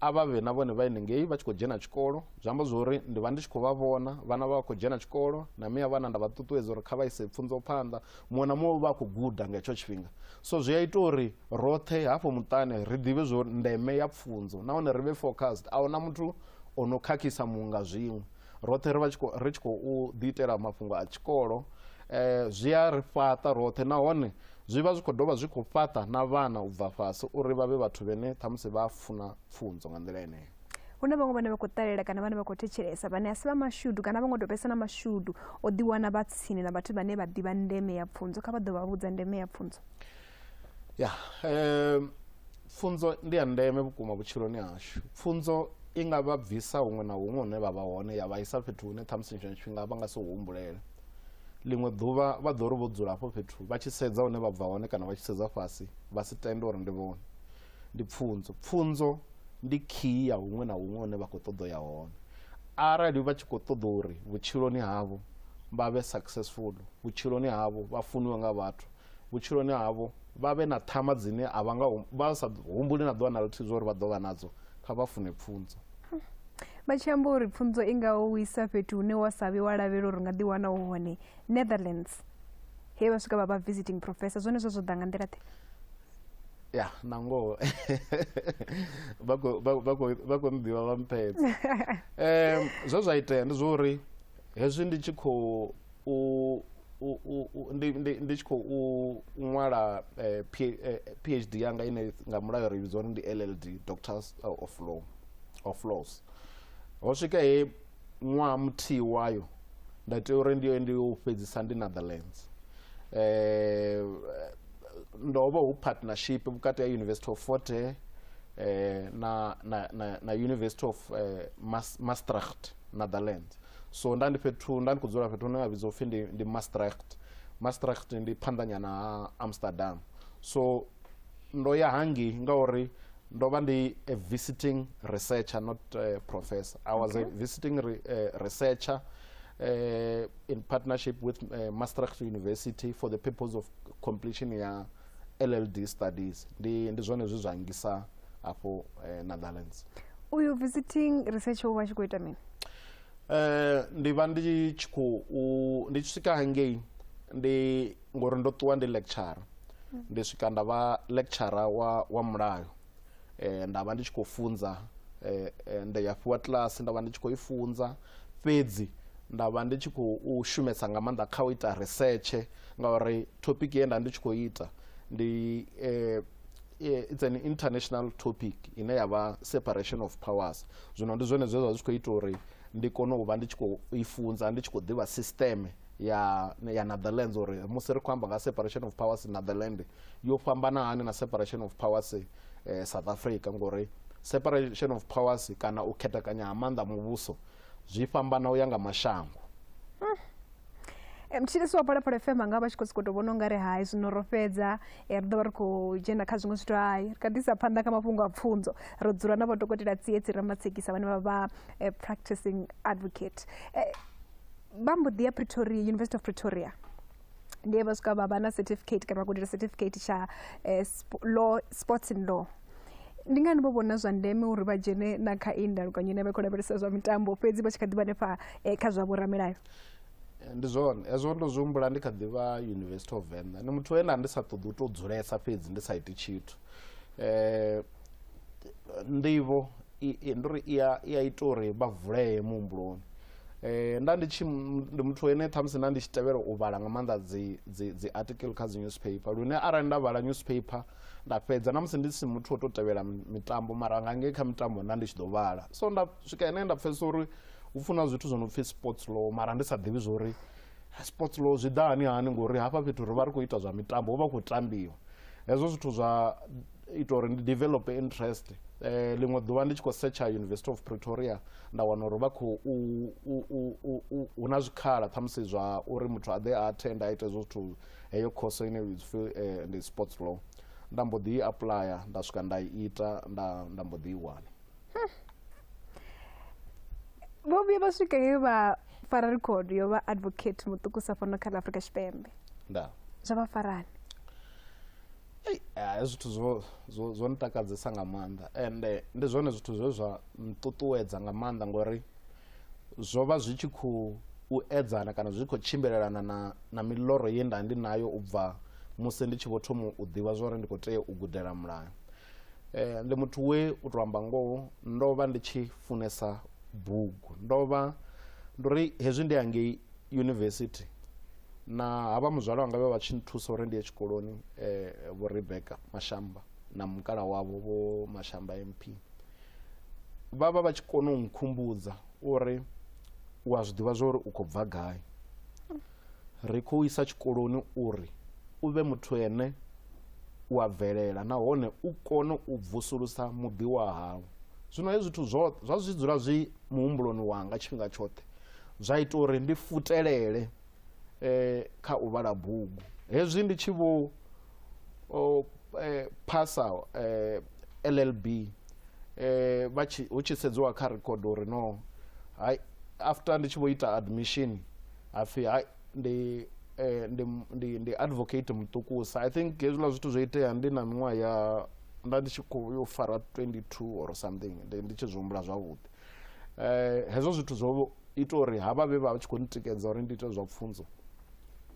a vha vhe na vhone vha henengei vha tshi khou dzhena tshikolo zwi amba zwo uri ndi vha ndi tshi khou vha vhona vhana vha vha khou dzhena tshikolo na miya vhana nda vha ṱuṱuwedza uri kha vha ise pfunzo phanḓa muṅwe na muṅwe vha khou guda nga hetsho tshifhinga so zwi a ita uri roṱhe hafho muṱani ri ḓivhe zwo ndeme ya pfunzo nahone ri vhe focused a huna muthu o no khakhisa muṅwe nga zwiṅwe roṱhe ri vha ri tshi khou ḓiitela mafhungo a tshikolo um zwi a ri fhaṱa roṱhe nahone zwi vha zwi khou dovha zwi khou fhaṱa na vhana u bva fhasi uri vha vhe vhathu vhene ṱhamusi vha funa pfunzo nga nḓila eneyo hu na vhaṅwe vhane vha khou ṱalela kana vhane vha khou thetshelesa vhane a si vha mashudu kana vha ngo tou vhesa na mashudu o ḓiwana vha tsini na vhathu vhane vha ḓivha ndeme ya pfunzo kha vha ḓo vha vhudza ndeme ya pfunzo ya um pfunzo ndi ya ndeme vhukuma vhutshiloni hashu pfunzo i nga vha bvisa huṅwe na huṅwe hune vha vha hone ya vha isa fhethu hune ṱhamusi tshiṅwe tshifhinga vha nga si humbulele ḽiṅwe ḓuvha vha ḓo ri vho dzula hafho fhethu vha tshi sedza hune vha bva hone kana vha tshi sedza fhasi vha si tende uri ndi vhone ndi pfunzo pfunzo ndi khiyi ya huṅwe na huṅwe hune vha khou ṱoḓa ya hone arali vha tshi khou ṱoḓa uri vhutshiloni havho vha vhe successful vhutshiloni havho vha funiwe nga vhathu vhutshiloni havho vha vhe na ṱhama dzine a vha nga vha sa humbuli na ḓuvha na luthihi zwa uri vha ḓo vha nadzo kha vha fune pfunzo vha tshi amba uri pfunzo i ngaho u isa fhethu hune wa sa vhe wa lavhelela uri u nga ḓiwana u hone netherlands he vha swika vha vha visiting professor zwone zwo zwo ḓa nga nḓila ḓe ya na ngoho vha khou- vha- vha khou- vha khou nḓivha vha mphedza um zwe zwa itea ndi zwa uri hezwi ndi tshi khou ndi ndi ndi tshi khou ṅwala PhD yanga ine nga mulayo ri vhidza uri ndi L_L_D Doctor of Law of Laws. Ho swika he ṅwaha muthihi wayo nda tea uri ndi ye ndi yo u fhedzisa ndi Netherlands ndo vha hu partnership vhukati ha University of Fort Hare na na na na University of Mass Maastricht Netherlands. so nda ndi fhethu nda ndi khou dzula fhethu hune ha vhidzwa upfhi ndi, ndi maastricht maastricht ndi phanḓanyana ha amsterdam so ndo ya hangei ngauri ndo vha ndi a visiting researcher not uh, professor i was okay. a visiting re, uh, researcher uh, in partnership with uh, maastricht university for the purpose of completion ya LLD studies ndi ndi zwone zwe zwa ngisa afho eh, Netherlands uyu visiting researcher u vha tshi khou ita mini eh ndi vha ndi tshi khou ndi tshi swika hangei ndi ngori ndo ṱuwa ndi lecturer ndi swika nda vha lecturer wa wa mulayo eh, nda vha ndi tshi khou funza eh, eh, nda ya fhiwa kiḽasi nda vha ndi tshi khou i funza fhedzi nda vha ndi tshi khou shumesa nga maanḓa kha u ita research ngauri topic ye nda ndi tshi khou ita ndi eh, eh, it's an international topic ine ya vha separation of powers zwino ndi zwone zwe zwa zwi tshi khou ita uri ndi kone u vha ndi tshi khou i funza ndi tshi khou ḓivha sisteme ya ya netherlands uri musi ri khou amba nga separation of powers netherland yo fhambana hani na separation of powers eh, south africa ngori separation of powers kana u khethekanya ha maanḓa muvhuso zwi fhambana u ya nga mashango Eh, mutshilisi wa phalaphala fm anga vha tshi khou sokou tou vhona ungari hai zwino ro fhedza eh, ri ḓo vha ri khou dzhena kha zwiṅwe zwithu hai ri kha ḓisa phanḓa kha mafhungo a pfunzo ro dzula na vhadokotela tsietsi ramatsekisa vhane vha vha eh, practicing advocate Eh, vha mbo ḓi ya pretoria university of pretoria ndi vha swika vha vha na certificate kana vha gudela certificate tsha eh, sp law sports and law ndi ngani vho vhona zwa ndeme uri vha dzhene na kha iyi ndalukanyo ine vha khou lavhelesa zwa mitambo fhedzi vha tshi kha ḓi vha nefha eh, kha zwa vhoramilayo Eh, ndi zwone hezwo ndo zwi humbula ndi kha ḓivha university of venḓa ndi muthu wena ndi sa ṱoḓi u tou dzulesa fhedzi ndi sa iti tshithu um nḓivho ndo ri i a ita uri vha vulee muhumbuloni eh, nda ndi tshi ndi muthu ene ṱhamusi nda ndi tshi tevhela u vhala nga maanḓa dzi, dzi, dzi article kha dzi newspaper lune arali nda vhala newspaper nda fhedza na musi ndi si muthu o to tevhela mitambo mara nga ngei kha mitambo nda ndi tshi ḓo vhala so nda swika ene nda pfhesesa uri hu funa zwithu zwo no pfhi sports law mara ndi sa ḓivhi zwo uri sports law zwi ḓa hani hani ngori hafha fhethu ri vha ri khou ita zwa mitambo hu vha khou tambiwa hezwo zwithu zwa ita uri ndi develop interest eh, ḽiṅwe ḓuvha ndi tshi khou setsha university of pretoria nda wana uri vha khou hu na zwikhala ṱhamusi zwa uri muthu a ḓe a attend a ite hezwo zwithu heyo course ine field eh, ndi sports law nda mbo ḓi i aplya nda swika nda i ita nda nda mbo ḓi i wana vho vhuya vha swika he vha fara record yo vha advocate muṱukusa fhano kha ḽa afrika tshipembe nda zwa vha farani a zwithu zwo zwo zwo ntakadzesa nga maanḓa ende ndi zwone zwithu zwe zwa nṱuṱuwedza nga maanḓa ngori zwo vha zwi tshi khou u edzana kana zwi khou tshimbilelana na na miloro ye nda ndi nayo u bva musi ndi tshi vho thoma u ḓivha zwori ndi khou tea u gudela mulayo eh, ndi muthu we u tou amba ngoho ndo vha ndi tshi funesa bugu ndo vha ndo ri hezwi ndi hangei yunivesithi na havha muzwala wanga vhe vha tshi nthusa uri ndi ye tshikoloni um vho rebecca mashamba na mukala wavho vho mashamba mp vha vha vha tshi kona u nkhumbudza uri u a zwi ḓivha zwa uri u khou bva gai ri khou isa tshikoloni uri u vhe muthu ene u a bvelela nahone u kone u vusulusa muḓi wa hau zwino hezwi zwithu zwa zwi dzula zwi muhumbuloni wanga tshifhinga tshoṱhe zwa ita uri ndi futelele eh, kha u vhala bugu hezwi ndi tshi vho o, eh, phasa eh, llb eh, vha tshi- hu tshi sedziwa kha record uri no hai after ndi tshi vho ita admission hapfi hai ndi eh, ndi, ndi, ndi advocate muṱukusa i think hezwiḽa zwithu zwo itea ndi na miṅwaha ya nda ndi tshi khou yo fara 22 or something ndi, ndi tshi zwi humbula zwavhuḓi eh, hezwo zwithu zwo ita uri havha vhe vha tshi khou ntikedza uri ndi ite zwa pfunzo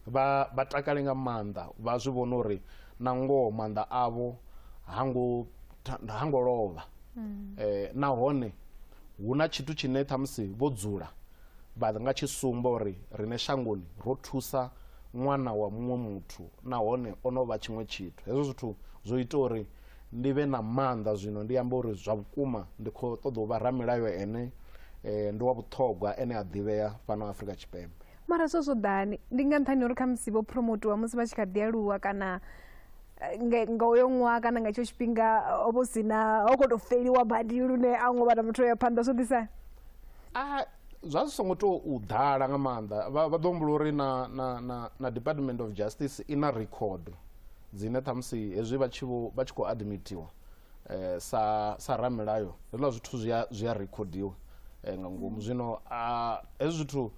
vha vha takale nga maanḓa vha zwi vhona uri na ngoho maanḓa avho hango hango lovha mm. eh, nahone hu na tshithu tshine ṱhamusi vho dzula vha nga tshi sumba uri rine shangoni ro thusa ṅwana wa muṅwe muthu nahone o no vha tshiṅwe tshithu hezwo zwithu zwo ita uri ndi vhe na maanḓa zwino ndi amba uri zwa vhukuma ndi khou ṱoḓa u vha ramilayo ene eh, ndi wa vhuṱhogwa ene a ḓivhea fhano afrika tshipembe mara zwo zwo ḓani ndi nga nṱhani uri khamusi vho promotiwa musi vha tshi kha ḓi aluwa kana eh, nge- nga uyo ṅwaha kana nga itsho tshifhinga ho vho sina ho khou tou feliwa badi lune a ngo vhana muthu o ya phanḓa zwo ḓisa a zwa zwi songo tou u ḓala nga maanḓa vha vha ḓo humbula uri na, na, na, na department of justice i na record dzine ṱhamusi hezwi vha tshi vho- vha tshi khou admitiwa eh, sa sa ramilayo hezwiḽa zwithu zwi a- zwi a rekhodiwa eh, nga ngomu zwino ah, hezwi zwithu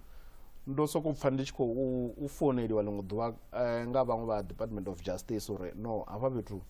ndo sokou pfa ndi tshi khou u- u founeliwa ḽiṅwe ḓuvha eh, nga vhaṅwe vha department of justice uri no hafha fhethu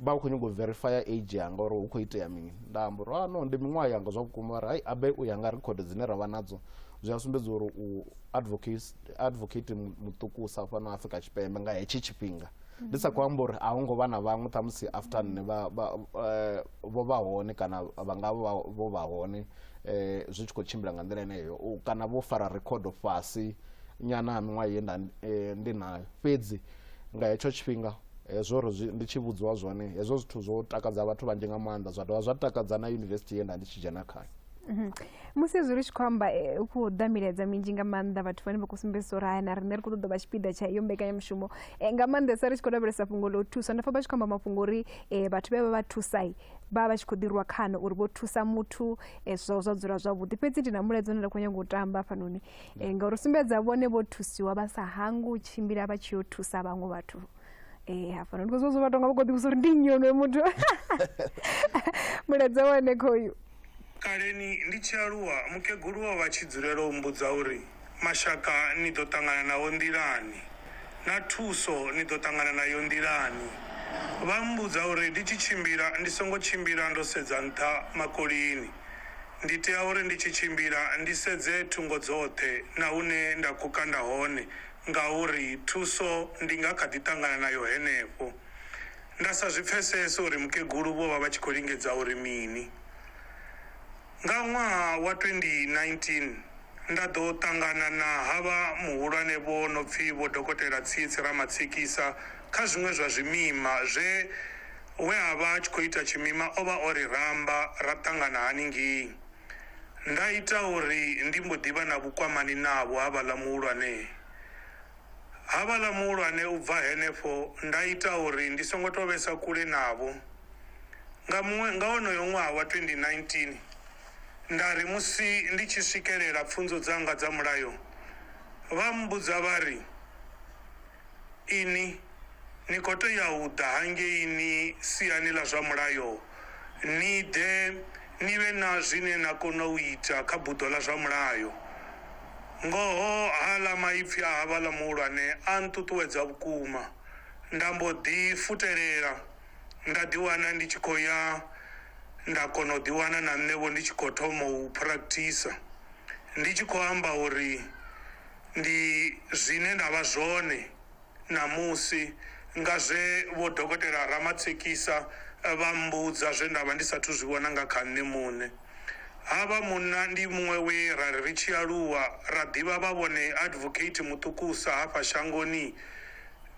vha khou nyanga u verifya age yanga uri hu khou itea mini nda amba uri "Ah, no ndi miṅwaha yanga zwa vhukuma uri hai abe u ya nga record dzine ra vha nadzo zwi a sumbedza uri u advocate advocate mu- muṱukusa fhano afrika tshipembe nga hetshi tshifhinga ndi sa khou amba uri a hu ngo vha na vhaṅwe ṱhamusi after nne vha- vha- eh, vho vha hone kana vha nga vha vho vha hone eh, zwi tshi khou tshimbila nga nḓila yeneyo U- kana vho fara rekhodo fhasi nyana ha miṅwaha ye nda eh, ndi nayo fhedzi nga hetsho tshifhinga hezwo ri zwi- ndi tshi vhudziwa zwone hezwo zwithu zwo takadza vhathu vhanzhi nga maanḓa zwa dovha zwa takadza na yunivesithi ye nda ndi tshi dzhena khayo Mhm. musi hezwi ri tshi khou amba eh, u khou damiledza minzhi nga maanḓa vhathu vhane vha khou sumbedzisa uri haya na riṋe ri khou ṱoḓa vha tshipiḓa tsha iyo mbekanyamushumo Eh, nga maanḓesa ri tshi khou lavhelesa fhungo ḽa u thusa nda pfa vha tshi khou amba mafhungo uri eh, vhathu vhe vha vha thusai vha vha vha tshi khou ḓirwa khano uri vho thusa muthu eh, zwa zwa dzula zwavhuḓi fhedzi ndi na mulaedza une nda khou nyanga u tamba hafhanoni Eh, ngauri u sumbedza vhone vho thusiwa vha sa hangi u tshimbila vha tshi yo thusa vhaṅwe vhathu Eh, hafhanoni kozwo zwo vha tonga vha khou ḓivhusa uri ndi nnyi onoyo muthu mulaedza wa hone khoyu Kaleni ndi tshi aluwa, mukegulu o vha tshi dzulela u mmbudza uri, Mashaka ni ḓo ṱangana nao nḓilani, na thuso ni ḓo ṱangana nayo nḓilani. Vha mmbudza uri ndi tshi tshimbila ndi songo tshimbila ndo sedza nṱha makolini. Ndi tea uri ndi tshi tshimbila ndi sedze thungo dzoṱhe na hune nda khou kanda hone ngauri thuso ndi nga kha ḓi ṱangana nayo henefho. Nda sa zwi pfesese uri mukegulu vho vha vha tshi khou lingedza uri mini. Nga ṅwaha wa 2019, nda ḓo ṱangana na havha muhulwane vho no pfi Vho Dokotela Tsietsi Ramatsikisa kha zwiṅwe zwa zwimima zwe we a vha a tshi khou ita tshimima o vha o ri ramba ra ṱangana haningei. Nda ita uri ndi mbo ḓi vha na vhukwamani navho havhaḽa muhulwane. Havhaḽa muhulwane u bva henefho nda ita uri ndi songo tou vhesa kule navho. Nga muṅwe, nga wonoyo ṅwaha wa 2019, nda ri musi ndi tshi swikelela pfunzo dzanga dza Mulayo, vha mmbudza vha ri, Inwi ni khou tea u ḓa hangei ni siani ḽa zwa Mulayo ni ḓe Ni vhe na zwine na kona u ita kha buḓo ḽa zwa mulayo. Ngoho, haaḽa maipfi a havhaḽa muhulwane a nṱuṱuwedza vhukuma. Nda mbo ḓi futelela, nda ḓiwana ndi tshi khou ya nda kona u ḓiwana na nṋe-vho ndi tshi khou thoma u phurakthisa, ndi tshi khou amba uri ndi zwine nda vha zwone. ṋamusi nga zwe Vho Dokotela Ramatshekisa vha mmbudza zwe nda vha ndi sathu zwi vhona nga kha nṋe muṋe. Havha munna ndi muṅwe we ra ri ri tshi aluwa ra ḓivha vha vhone advocate muṱukusa hafha shangoni,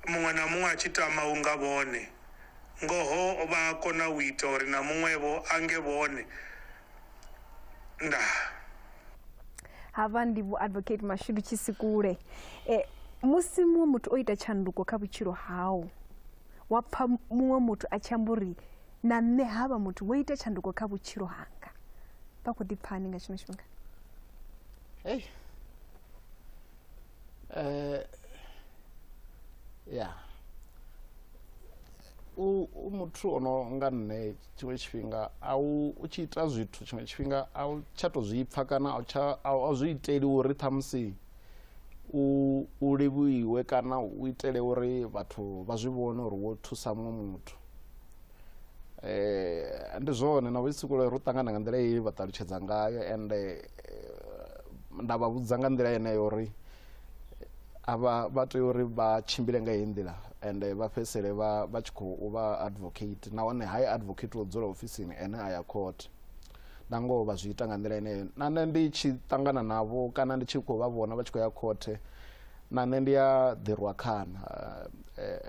muṅwe na muṅwe a tshi tama u nga vhone. Ngoho vha a kona u ita uri na muṅwe-vho a nge vhone. ndaa hafha ndi vho advocate mashudu tshisikule e, eh, musi muṅwe muthu o ita tshanduko kha vhutshilo hau wa pfa muṅwe muthu a tshi amba uri na nṋe havha muthu wo ita tshanduko kha vhutshilo hanga vha khou ḓi pfani nga tshino tshifhinga hey. uh, eh, yeah. u, u muthu o no nga nṋe tshiṅwe tshifhinga a u u tshi ita zwithu tshiṅwe tshifhinga a u tsha to zwi pfa kana a u tsha a u- a u zwi iteli uri ṱhamusi u u livhuiwe kana u itele uri vhathu vha zwi vhone uri wo thusa muṅwe muthu eh ndi zwone na vhusikule ro ṱangana nga nḓila ye vha ṱalutshedza ngayo ende eh, nda vha vhudza nga nḓila yeneyo uri a vha vha tea uri vha tshimbile nga heyi nḓila ende vha fhedzisele vha vha tshi khou vha advocate nahone ha advocate wo dzula ofisini ene a ya court na ngoho vha zwi ita nga nḓila ine na nṋe ndi tshi ṱangana navho kana ndi tshi khou vha vhona vha tshi khou ya khothe na nṋe ndi a ḓirwa khana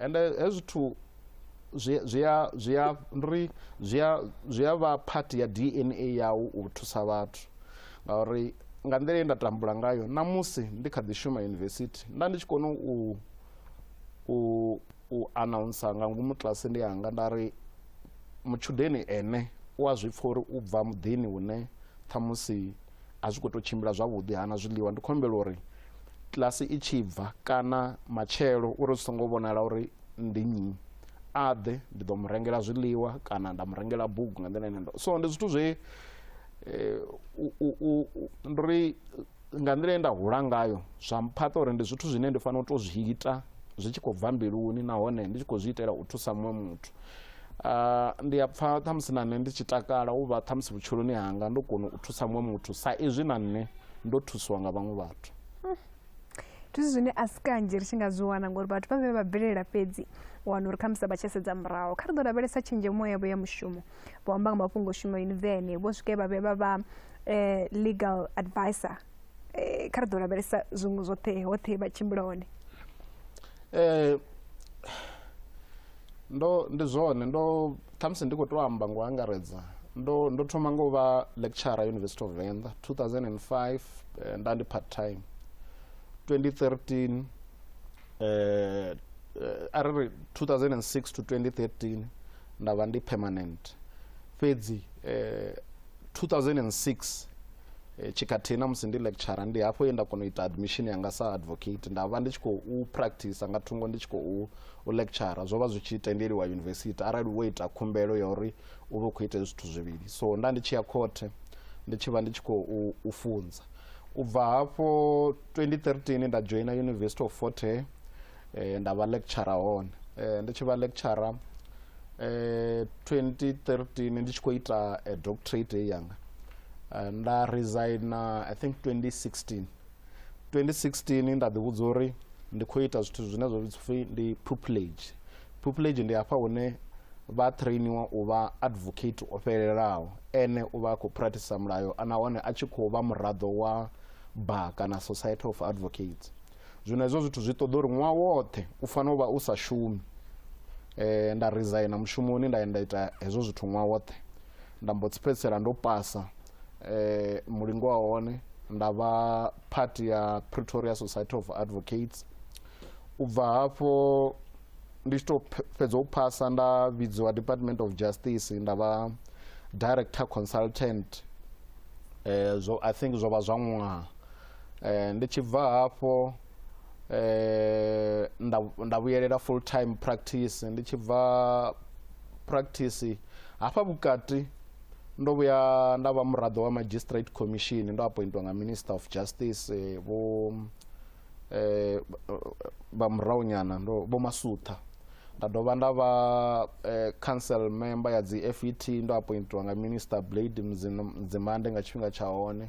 ende hezwi zwithu zwi zwi a zwi a ri zwi a zwi a vha part ya DNA yau u thusa vhathu ngauri nga nḓila ye nda tambula ngayo na musi ndi kha ḓi shuma yunivesithi nda ndi tshi kona u u u announcer nga ngomu kilasini yanga nda ri mutshudeni ene u a zwi pfha uri u bva muḓini hune ṱhamusi a zwi khou tou tshimbila zwavhuḓi hana zwiḽiwa ndi khou humbela uri kilasi i tshi bva kana matshelo uri zwi songo vhonala uri ndi nnyi a ḓe ndi ḓo mu rengela zwiḽiwa kana nda mu rengela bugu nga nḓila ine ndo so ndi zwithu zwe eh, ndo ri nga nḓila ye nda hula ngayo zwa mphaṱa uri ndi zwithu zwine ndi fanela u tou zwi ita zwi tshi khou bva mbiluni nahone ndi tshi khou zwi itela u thusa muṅwe muthu ah, ndi a pfa ṱhamusi na nṋe ndi tshi takala u vha ṱhamusi vhutshiloni hanga ndo kona u thusa muṅwe muthu sa izwi na nṋe ndo thusiwa nga vhaṅwe vhathu ndi zwithu zwine a si kanzhi ri tshi nga zwi wana ngori vhathu vha vhe vha bvelela fhedzi u wana uri khamusi a vha tsha sedza muraho kha ri ḓo lavhelesa tshenzhemo yavho ya mushumo vho amba nga mafhungo shuma yunivene vho swike vha vhe vha vha eh, legal advisor eh, kha ri ḓo lavhelesa zwiṅwe zwoṱhe hoṱhe vha tshimbila hone eh, ndo ndi zwone ndo Khamusi ndi khou tou amba ngo angaredza ndo ndo thoma ngo vha lecturer University of Venḓa 2005 nda ndi part time 2013 eh a ri ri 2006 to 2013 nda vha ndi permanent fhedzi eh 2006 eh, tshikhathihi na musi ndi lecturer ndi hafho ye nda kona u ita admission yanga sa advocate nda vha ndi tshi khou practice nga thungo ndi tshi khou u lecturer zwo vha zwi tshi tendeliwa university arali wo ita khumbelo ya uri u vhe u khou ita hezwi zwithu zwivhili so nda ndi tshi ya khothe ndi tshi vha ndi tshi khou u funza u bva hafho 2013 nda joina university of fort hare eh, nda vha lecturer hone eh, ndi tshi vha lecturer eh, 2013 ndi tshi khou ita eh, doctorate ye yanga eh, nda resigna i think 2016 2016 nda ḓivhudza uri ndi khou ita zwithu zwine zwa vhidzi ndi pupillage pupillage ndi hafha hune vha trainiwa u vha advocate o fhelelaho ene u vha a khou practice mulayo nahone a tshi khou vha muraḓo wa bar kana society of advocates zwino hezwo zwithu zwi ṱoḓa uri ṅwaha woṱhe u fanela u vha u sa shumi um nda resigna mushumoni nda ya nda ita hezwo zwithu ṅwaha woṱhe nda mbo tsi fhedzisela ndo pasa um mulingo wa hone nda vha part ya pretoria society of advocates u bva hafho ndi tshi tou fhedza u phasa nda vhidziwa department of justice nda vha director consultant um zwo i think zwo vha zwa ṅwaha Eh, ndi tshi bva hafho eh, nda, nda vhuyelela full time practice ndi tshi bva practice hafha vhukati ndo vhuya nda vha muraḓo wa magistrate commission ndo appointwa nga minister of justice eh, vho eh, vha murahu nyana ndo vho masutha nda dovha nda vha eh, council member ya dzi fet ndo appointwa nga minister blade Mdzin- mdzimande nga tshifhinga tsha hone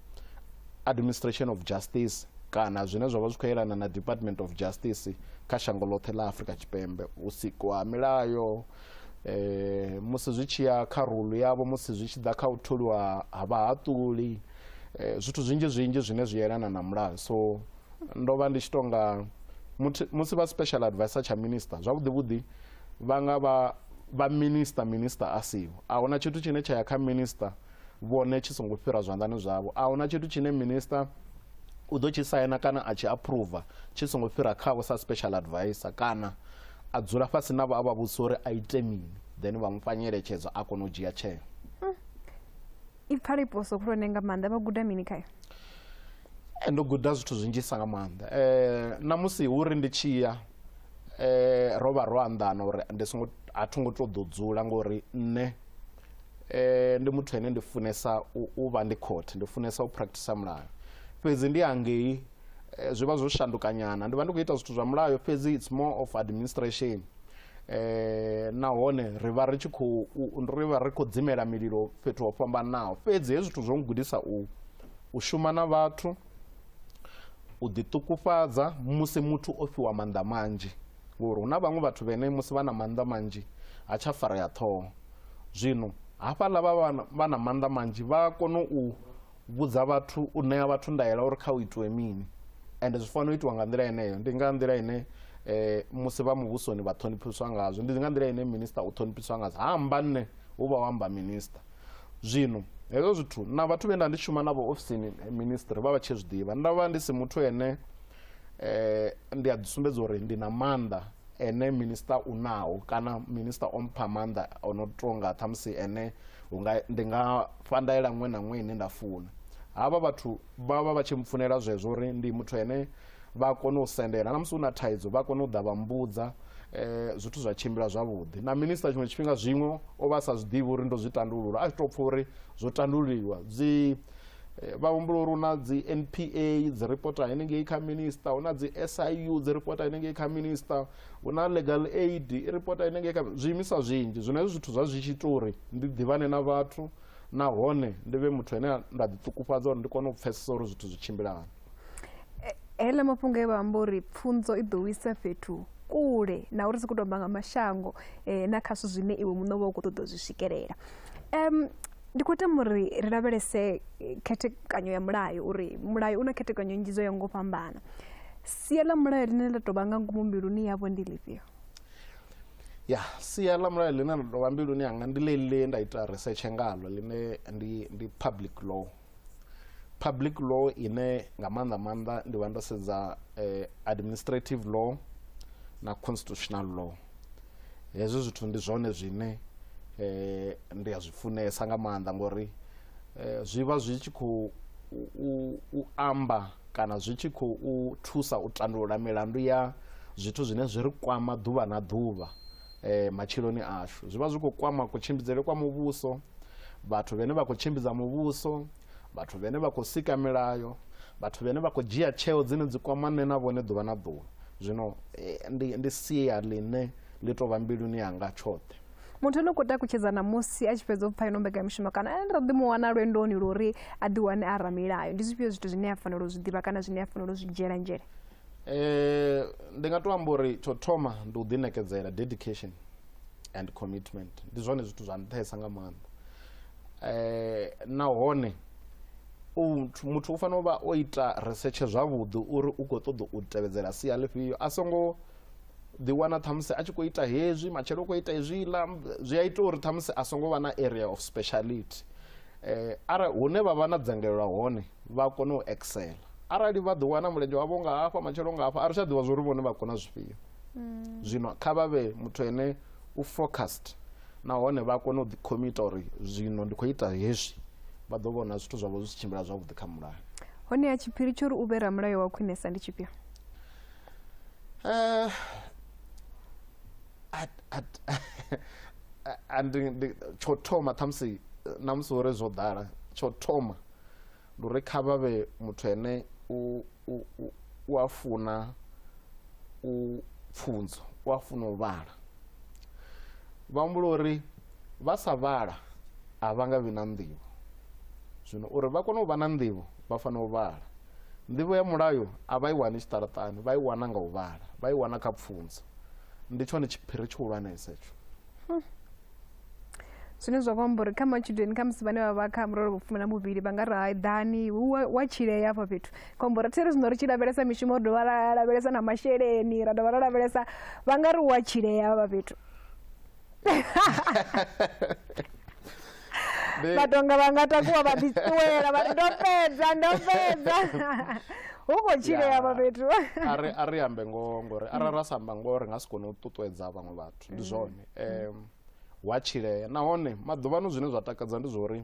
administration of justice kana zwine zwa vha zwi khou yelana na department of justice kha shango ḽoṱhe ḽa afrika tshipembe u sikwa ha milayo eh, musi zwi tshi ya kha rulu yavho musi zwi tshi ḓa kha u tholiwa ha vhahaṱuli eh, zwithu zwinzhi zwinzhi zwine zwi yelana na mulayo so ndo vha ndi tshi tonga muthi- musi vha special advisor tsha minister zwavhuḓi vhuḓi vha nga vha vha minister minister a siho a huna tshithu tshine tsha ya kha minister vhone tshi songo fhira zwanḓani zwavho a huna tshithu tshine minista u ḓo tshi saina kana a tshi approva tshi songo fhira khavho sa special advisor kana a dzula fhasi navho a vha vhudzisa uri a ite mini then vha mu fha nyeletshedzo a kona u dzhia tsheo hmm. i pfala iposo khulwane nga maanḓa vha guda mini khayo eh, ndo guda zwithu zwinzhisa nga maanḓa um namusi hu ri ndi tshi ya um ro vha ro anḓana uri ndi songo a tho ngo tou ḓo dzula ngori nṋe eh, ndi muthu ene ndi funesa u vha ndi court ndi funesa u practice mulayo fhedzi ndi angei eh, zwi vha zwo shandukanyana ndi vha ndi khou ita zwithu zwa mulayo fhedzi it's more of administration eh nahone ri vha ri tshi khou ri vha ri khou dzimela mililo fhethu ho fhambanaho fhedzi hezwi zwithu zwo ngudisa u u shuma na vhathu u ḓiṱukufhadza musi muthu o fhiwa maanḓa manzhi ngori hu na vhaṅwe vhathu vhene musi vha na maanḓa manzhi ha tsha farea ṱhoho zwino hafhaḽa vha vha na maanḓa manzhi vha a kona u vhudza vhathu u ṋea vhathu ndaela uri kha u itiwe mini ende zwi fanela u itiwa nga nḓila yeneyo ndi nga nḓila ine um musi vha muvhusoni vha ṱhoniphiswa ngazwo ndi nga nḓila ine minista u ṱhoniphiswa ngazwo ha amba nṋe hu vha u amba minista zwino hezwo zwithu na vhathu vhe nda ndi shuma navho ofisini eh, ministry vha vha tshi zwi ḓivha nda vha ndi si muthu ene eh, ndi a ḓisumbedza uri ndi na maanḓa ene minista u naho kana minista o mpha maanḓa o no tonga ṱhamusi ene unga ndi nga fha ndaela ṅwe na ṅwe ine nda funa havha vhathu vha vha vha tshi mpfunela zwezwo uri ndi muthu ene vha kone u sendela na musi u na thaidzo vha kone u ḓa vha mbudza eh, zwithu zwa tshimbila zwavhuḓi na minista tshiṅwe tshifhinga zwiṅwe o vha sa zwi ḓivhi uri ndo zwi tandulula a tshi tou pfha uri zwo tandululiwa dzi Eh, vha humbula uri hu na dzi npa dzi reporta henengei kha minista hu na dzi siu dzi reporta henengei kha minista hu na legal aid i reporta henengei kha zwiimiswa zwinzhi zwino hezwi zwithu zwa zwi tshi ita uri ndi ḓivhane na vhathu nahone ndi vhe muthu ane nda ḓiṱukufhadza uri ndi kone u pfhesesa uri zwithu zwi tshimbilani heḽa mafhungo e vha amba uri pfunzo i ḓo wisa fhethu kule na uri si khou tomba nga mashango um na kha zwithu zwine iwe muṋe wa u khou ṱoḓa u zwi swikelela um ndi khou tama uri ri lavhelese eh, khethekanyo ya mulayo uri mulayo u na khethekanyo nnzhi dzo ya ngo fhambana sia ḽa mulayo ḽine ḽa tou vha nga ngomu mbiluni yavho ndi ḽifhio ya sia ḽa mulayo ḽine ḽa tou vha mbiluni yanga ndi ḽeḽi ḽe nda ita research ngalo ḽine ndi ndi public law public law ine nga maanḓa maanḓa ndi vha ndo sedza eh, administrative law na constitutional law hezwi zwithu ndi zwone zwine eh, ndi a zwi funesa nga maanḓa ngori eh, zwi vha zwi tshi khou u- u- u amba kana zwi tshi khou u thusa u tandulula milandu ya zwithu zwine zwi ri kwama ḓuvha na ḓuvha eh, matshiloni ashu zwi vha zwi khou kwama kutshimbidzele kwa muvhuso vhathu vhane vha khou tshimbidza muvhuso vhathu vhane vha khou sika milayo vhathu vhane vha khou dzhia tsheo dzine dzi kwama nṋe na vhone ḓuvha na ḓuvha zwino eh, ndi, ndi sia ḽine ḽi tou vha mbiluni yanga tshoṱhe muthu ane u khou takutshedza ṋamusi a tshi fhedza u pfa ino mbekamishumo kana ane ndo ḓi mu wana lwendoni lwo uri a ḓiwane a ramilayo ndi zwifhio zwithu zwine a fanela u zwi ḓivha kana zwine a fanela u zwi dzhiela nzhele eh ndi nga to amba uri tsho thoma ndi u ḓinekedzela dedication and commitment ndi zwone zwithu zwa nṱhesa nga maanḓa eh nahone muthu u fanela u vha o ita research zwavhuḓi uri u khou ṱoḓa u tevhedzela sia ḽifhio a songo ḓiwana ṱhamusi a tshi khou ita hezwi matshelo u khou ita hezwiḽa zwi a ita uri ṱhamusi a songo vha na area of speciality um arali hune vha vha na dzangalelo hone vha kone u excela arali vha ḓo wana mulenzhe wavho nga hafha matshelo nga hafha a ri tsha ḓivha zwori vhone vha kona zwifhio mm. zwino kha vha vhe muthu ene u focused nahone vha kone u ḓikhomita uri zwino ndi khou ita hezwi vha ḓo vhona zwithu zwavho zwi si tshimbila zwavhuḓi kha mulayo hone ya tshiphiri tsho uri u vhe ramulayo wa khwinesa ndi tshifhio eh, tsho thoma ṱhamusi na musi uri zwo ḓala tsho thoma ndi uri kha vha vhe muthu ene u, u, u, u a funa u pfunzo u a funa u vhala vha humbula uri vha sa vhala a vha nga vhi na nḓivho zwino uri vha kone u vha na nḓivho vha fanela u vhala nḓivho ya mulayo a vha i wani tshiṱaraṱani vha i wana nga u vhala vha i wana kha pfunzo ndi tshone tshiphiri tshihulwanesa etsho zwine zwa khou amba uri kha matshudeni kha musi vhane vha vha kha murole vhufumi na muvhili vha nga ri hai ḓani wa tshilea afha fhethu khou amba uri thi ri zwino ri tshi lavhelesa mishumo ri dovha ra lavhelesa na masheleni ra dovha ra lavhelesa vha nga ri wa tshilea avha fhethu vhatonga vha nga takuwa vha ḓiṱuwela vha ri ndo fhedza ndo fhedza hu khou tshilea avha fhethu a ri ambe ngoho ngori arali ra sa amba ngoho ri nga si kone u ṱuṱuwedza vhaṅwe vhathu vhathu ndi zwone um hu a tshilea nahone maḓuvhano zwine zwa takadza ndi zwa uri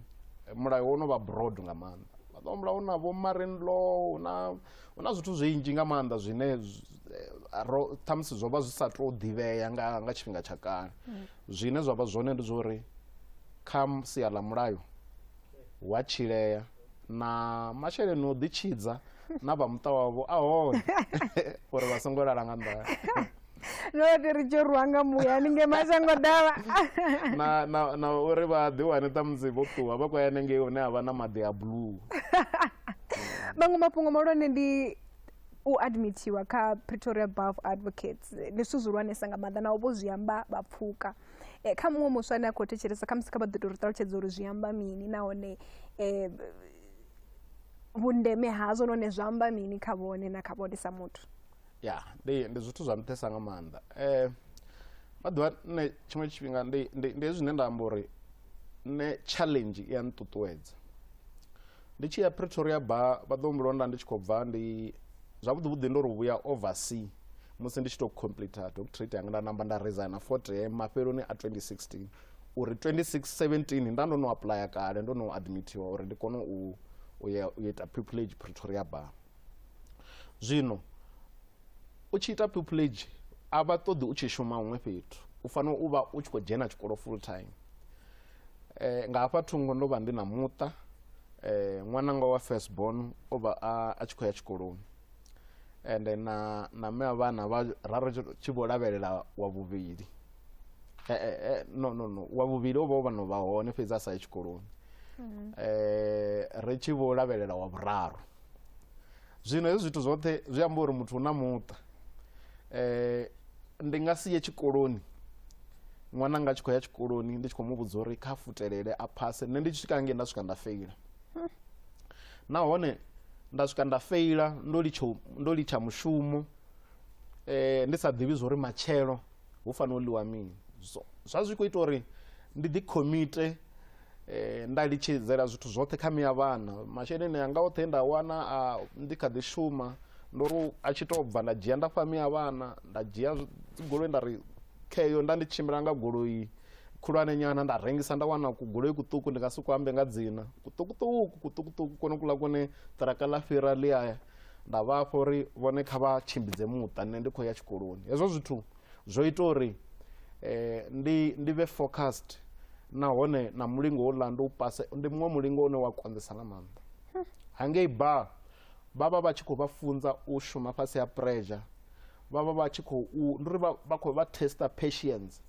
eh, mulayo wo no vha broad nga maanḓa maḓuvha mulayo na vho marine law hu na hu na zwithu zwinzhi nga maanḓa zwine z- eh, ro ṱhamusi zwo vha zwi sa tou ḓivhea nga nga tshifhinga tsha kale zwine zwa vha zwone ndi zwa uri kha sia ḽa mulayo wa tshilea na masheleni o ḓitshidza na vha muṱa wavho a hone uri vha songo lala nga nḓala note ri tshi rwa nga muya ni nge mashango dava na uri vha ḓi wane ṱamusi vho ṱuwa vha khou ya nengei hune ha vha na maḓi a blue maṅwe mafhungo mahulwane ndi u admithiwa kha pretoria buff advocates ndi zwithu zwihulwanesa nga maanḓa naho vho zwi amba vha pfuka Eh, kha muṅwe muswa ane a khou thetshelesa khamusi kha vha ḓo tou ri ṱalutshedza uri zwi amba mini nahone um vhundeme hazwo nahone zwi amba mini kha vhone na kha vhone sa muthu ya ndi ndi zwithu zwa nṱhesa nga maanḓa um maḓuvha nṋe tshiṅwe tshifhinga ndi ndi ndi zwine nda amba uri nṋe challenge i ya nṱuṱuwedza ndi tshi ya pretoria ba vha ḓo mbulonda ndi tshi khou bva ndi zwavhuḓi vhuḓi ndo ri vhuya oversea musi ndi tshi tou complete doctorate yanga nda namba nda resigna forte mafheloni a 2016 uri 2017 nda ndo no aplya kale ndo no admitiwa uri ndi kone u u ya u ita pupillage pretoria bar zwino u tshi ita pupillage a vha ṱoḓi u tshi shuma huṅwe fhethu u fanela u vha u tshi khou dzhena tshikolo full time Eh, nga hafha thungo ndo vha ndi na muṱa eh, ṅwananga wa first born o vha a tshi khou ya tshikoloni ende na na mme wa vhana vha raro tshi vho lavhelela wa vhuvhili eh, eh, eh, no no no wa vhuvhili o vha o vha no vha hone fhedzi a sa ye tshikoloni mm. eh, ri tshi vho lavhelela wa vhuraru zwino hezwi zwithu zwoṱhe zwi amba uri muthu u na muṱa um ndi nga si ye tshikoloni ṅwana nga tshi khou ya tshikoloni ndi tshi khou mu vhudza uri kha futelele a phase nṋe ndi tshi swika ngei nda swika nda feila nahone nda swika nda feila ndo litsha mushumo um ndi sa ḓivhi zwa uri matshelo hu fanela u ḽiwa mini so zwa zwi khou ita uri ndi ḓi khomite eh, nda litshedzela zwithu zwoṱhe kha miya vhana masheleni anga oṱhe nda wana a ndi kha ḓi shuma ndo ri a tshi tou bva nda dzhia nda fha miya vhana nda dzhia goloi nda ri kheyo nda ndi tshimbila nga goloi khulwane nyana nda rengisa nda wana kugoloi kuṱuku ndi nga si ku ambe nga dzina kuṱukuṱuku kuṱukuṱuku kone kuḽa kone ṱiraka ḽa fhira ḽi aya nda vha afho uri vhone kha vha tshimbidze muṱa nṋe ndi khou ya tshikoloni hezwo zwithu zwo ita uri eh, ndi ndi vhe focused nahone na mulingo houḽa ndi u pase ndi muṅwe mulingo une wa konḓesa nga maanḓa hangei ba vha vha vha tshi khou vha funza u shuma fhasi ha pressure vha vha vha tshi khou ndi uri vha khou vha testa patience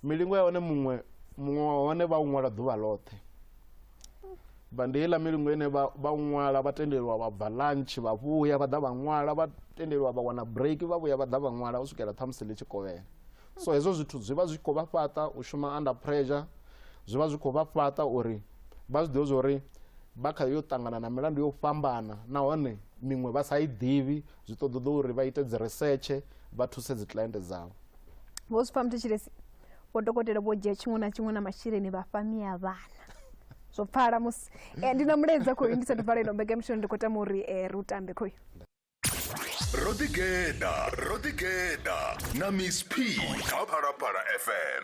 milingo ya hone muṅwe muṅwe wa hone vha u ṅwala ḓuvha ḽoṱhe vha ndi heiḽa milungu ine vha vha ṅwala vha tendeliwa vha bva lunch vha vhuya vha ḓa vha ṅwala vha tendeliwa vha wana break vha vhuya vha ḓa vha ṅwala u swikela ṱhamusi ḽi tshi kovhela so hezwo zwithu zwi vha zwi khou vha fhaṱa u shuma under pressure zwi vha zwi khou vha fhaṱa uri vha zwi ḓivhe zwori vha kha yo ṱangana na milandu yo fhambana nahone miṅwe vha sa i ḓivhi zwi ṱoḓa ḓo uri vha ite dzi risetshe vha thuse dzi client dzavho vho zwi pfha muthetshilesi vho dokotela vho dzhia tshiṅwe na tshiṅwe na masheleni vha fha mia vhana zwo pfala musi eh, ndi na mulaedza khoyu ndi sathu vala ino mbekemishono ndi khou tama uri eh, ri u tambe khoyu ro ḓigeḓa ro ḓigeḓa na miss p kha phalaphala fm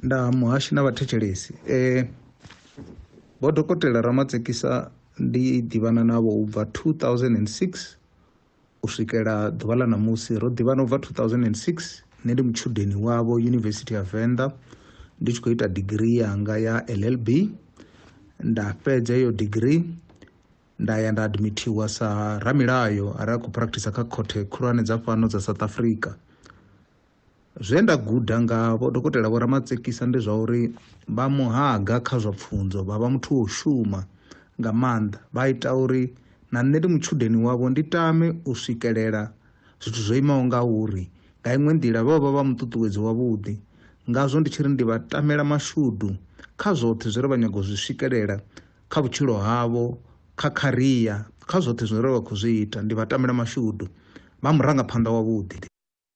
nda muhashi na vhathetshelesi eh vho dokotela ramatsekisa ndi ḓivhana navho u bva 2006 U swikela ḓuvha ḽa ṋamusi, ro ḓivhana u bva 2006. Nṋe ndi mutshudeni wavho Yunivesithi ya Venḓa ndi tshi khou ita digirii yanga ya LLB. Nda fhedza iyo digirii nda ya nda admithiwa sa ramilayo arali a khou practicer kha khothe khulwane dza fhano dza South Africa. Zwe nda guda nga Vho Dokotela Vho Ramatsekisa ndi zwa uri vha muhaga kha zwa pfunzo, vha vha muthu wo shuma nga maanḓa, vha ita uri na nṋe ndi mutshudeni wavho ndi tame u swikelela zwithu zwo imaho ngauri. Nga iṅwe nḓila, vho vha vha muṱuṱuwedzi wavhuḓi. Ngazwo ndi tshi ri ndi vha tamela mashudu kha zwoṱhe zwe vha nyaga u zwi swikelela kha vhutshilo havho, kha kharia, kha zwoṱhe zwine vha khou zwi ita. Ndi vha tamela mashudu. Vha murangaphanḓa wavhuḓi.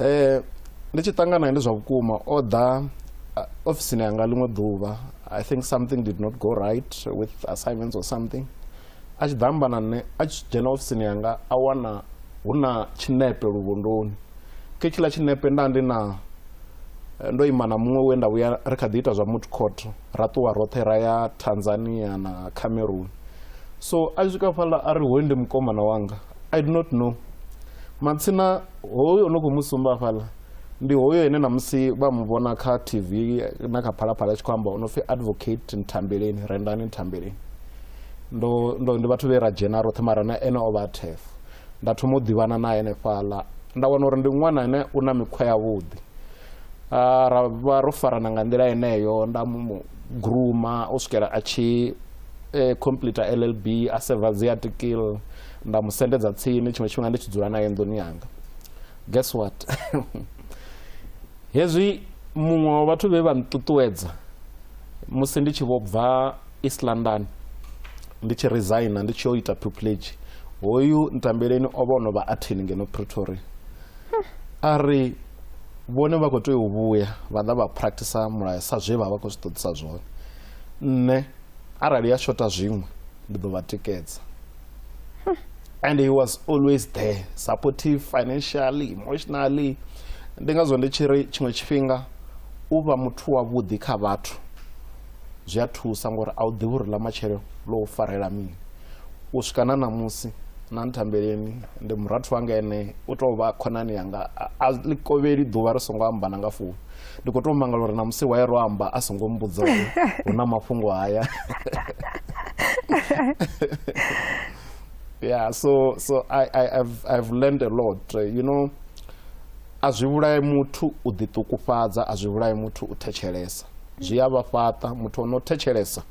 um ndi tshi ṱangana ndi zwa vhukuma o ḓa ofisini yanga ḽiṅwe ḓuvha i think something did not go right with assignments or something a tshi ḓa amba na nṋe a tshi dzhena ofisini yanga a wana hu na tshinepe luvhondoni khe tshiḽa tshinepe nda ndi na eh, ndo ima na muṅwe we nda vhuya ri kha ḓi ita zwa mut court ra ṱuwa roṱhe ra ya tanzania na cameroon so a tshi swika fhaḽa a ri hoyu ndi mukomana wanga i do not know matsina hoyo no khou mu sumba fhaḽa ndi hoyo ene namusi vha mu vhona kha tv na kha phalaphala tshi khou amba o no pfi advocate ntambeleni rendani ntambeleni ndo ndo ndi vhathu vhe ra dzhena roṱhe mara na ene o vha thef nda thoma u ḓivhana na ene fhaḽa nda wana uri ndi ṅwana ane u na mikhwa yavhuḓi ra vha ro farana nga nḓila yeneyo nda mu gruma u swikela a tshi eh, complete llb a seva dzi article nda mu sendedza tsini tshiṅwe tshifhinga ndi tshi dzula naye nḓuni yanga guess what hezwi muṅwe wa vhathu vhe vha nṱuṱuwedza musi ndi tshi vho bva east london ndi tshi resigna ndi tshi yo ita pupilage hoyu ntambeleni o vha o no vha athini ngeno pretoria a ri vhone vha khou tea u vhuya vha ḓa vha practice mulayo sa zwe vha vha khou zwi ṱoḓisa zwone nṋe arali ya shota zwiṅwe ndi ḓo vha tikedza and he was always there supportive financially emotionally ndi ngazwo ndi tshi ri tshiṅwe tshifhinga u vha muthu wavhuḓi kha vhathu zwi a thusa ngori a u ḓivhi uri ḽa matshelo ḽo u farela mini u swika na ṋamusi na nthambeleni ndi murathu wanga ene u tou vha khonani yanga a ḽi kovheli ḓuvha ri songo amba na nga founu ndi khou tou mangala uri na musi wa ye ro amba a songo mbudza uri hu na mafhungo haya yeah so so i i i've, i've learned a lot uh, you know a zwi vhulaye muthu u ḓiṱukufhadza a zwi vhulaye muthu u thetshelesa zwi a vha fhaṱa muthu ono thetshelesa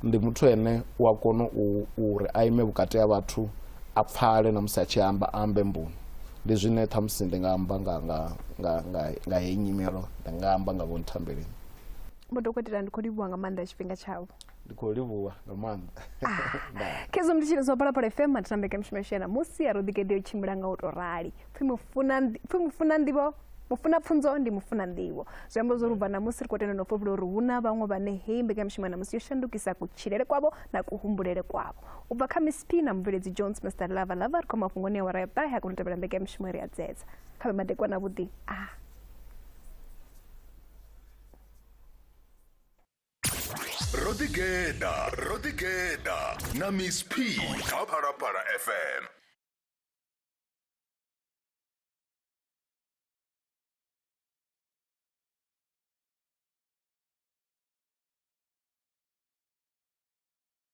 ndi muthu ene u a kona u uri a ime vhukati ha vhathu a pfale na musi a tshi amba ambe mboni ndi zwine ṱhamusi ndi nga amba nga nga nga nga nga heyi nyimelo ndi nga amba nga vho nthambeleni vho dokotela ndi khou livhuwa nga maanḓa tshifhinga tshavho ndi khou livhuwa nga maanḓa Ndaa. khezwo ndi tshiri zwa phalaphala fm matambeke mishumo yashena musi ya roḓigede yo tshimbila nga u tou rali pfhi mufuna ndi- pfhi mufuna ndivho mufuna pfunzo ndi mufuna nḓivho zwi amba zwo rubva namusi ri khou tenda no fhofhula uri hu na vhaṅwe vhane heyi mbekanyamishumo namusi yo shandukisa kutshilele kwavho na kuhumbulele kwavho u bva kha mcp na mubveledzi jones mr lava lava ri khou mafhungoni a wara ya ṱahe a kona u tevhela mbeke ya mishumo ri a dzedza kha vhe madekwana vhuḓi a ah. ro ḓigeḓa ro ḓigeḓa na miss p kha phalaphala fm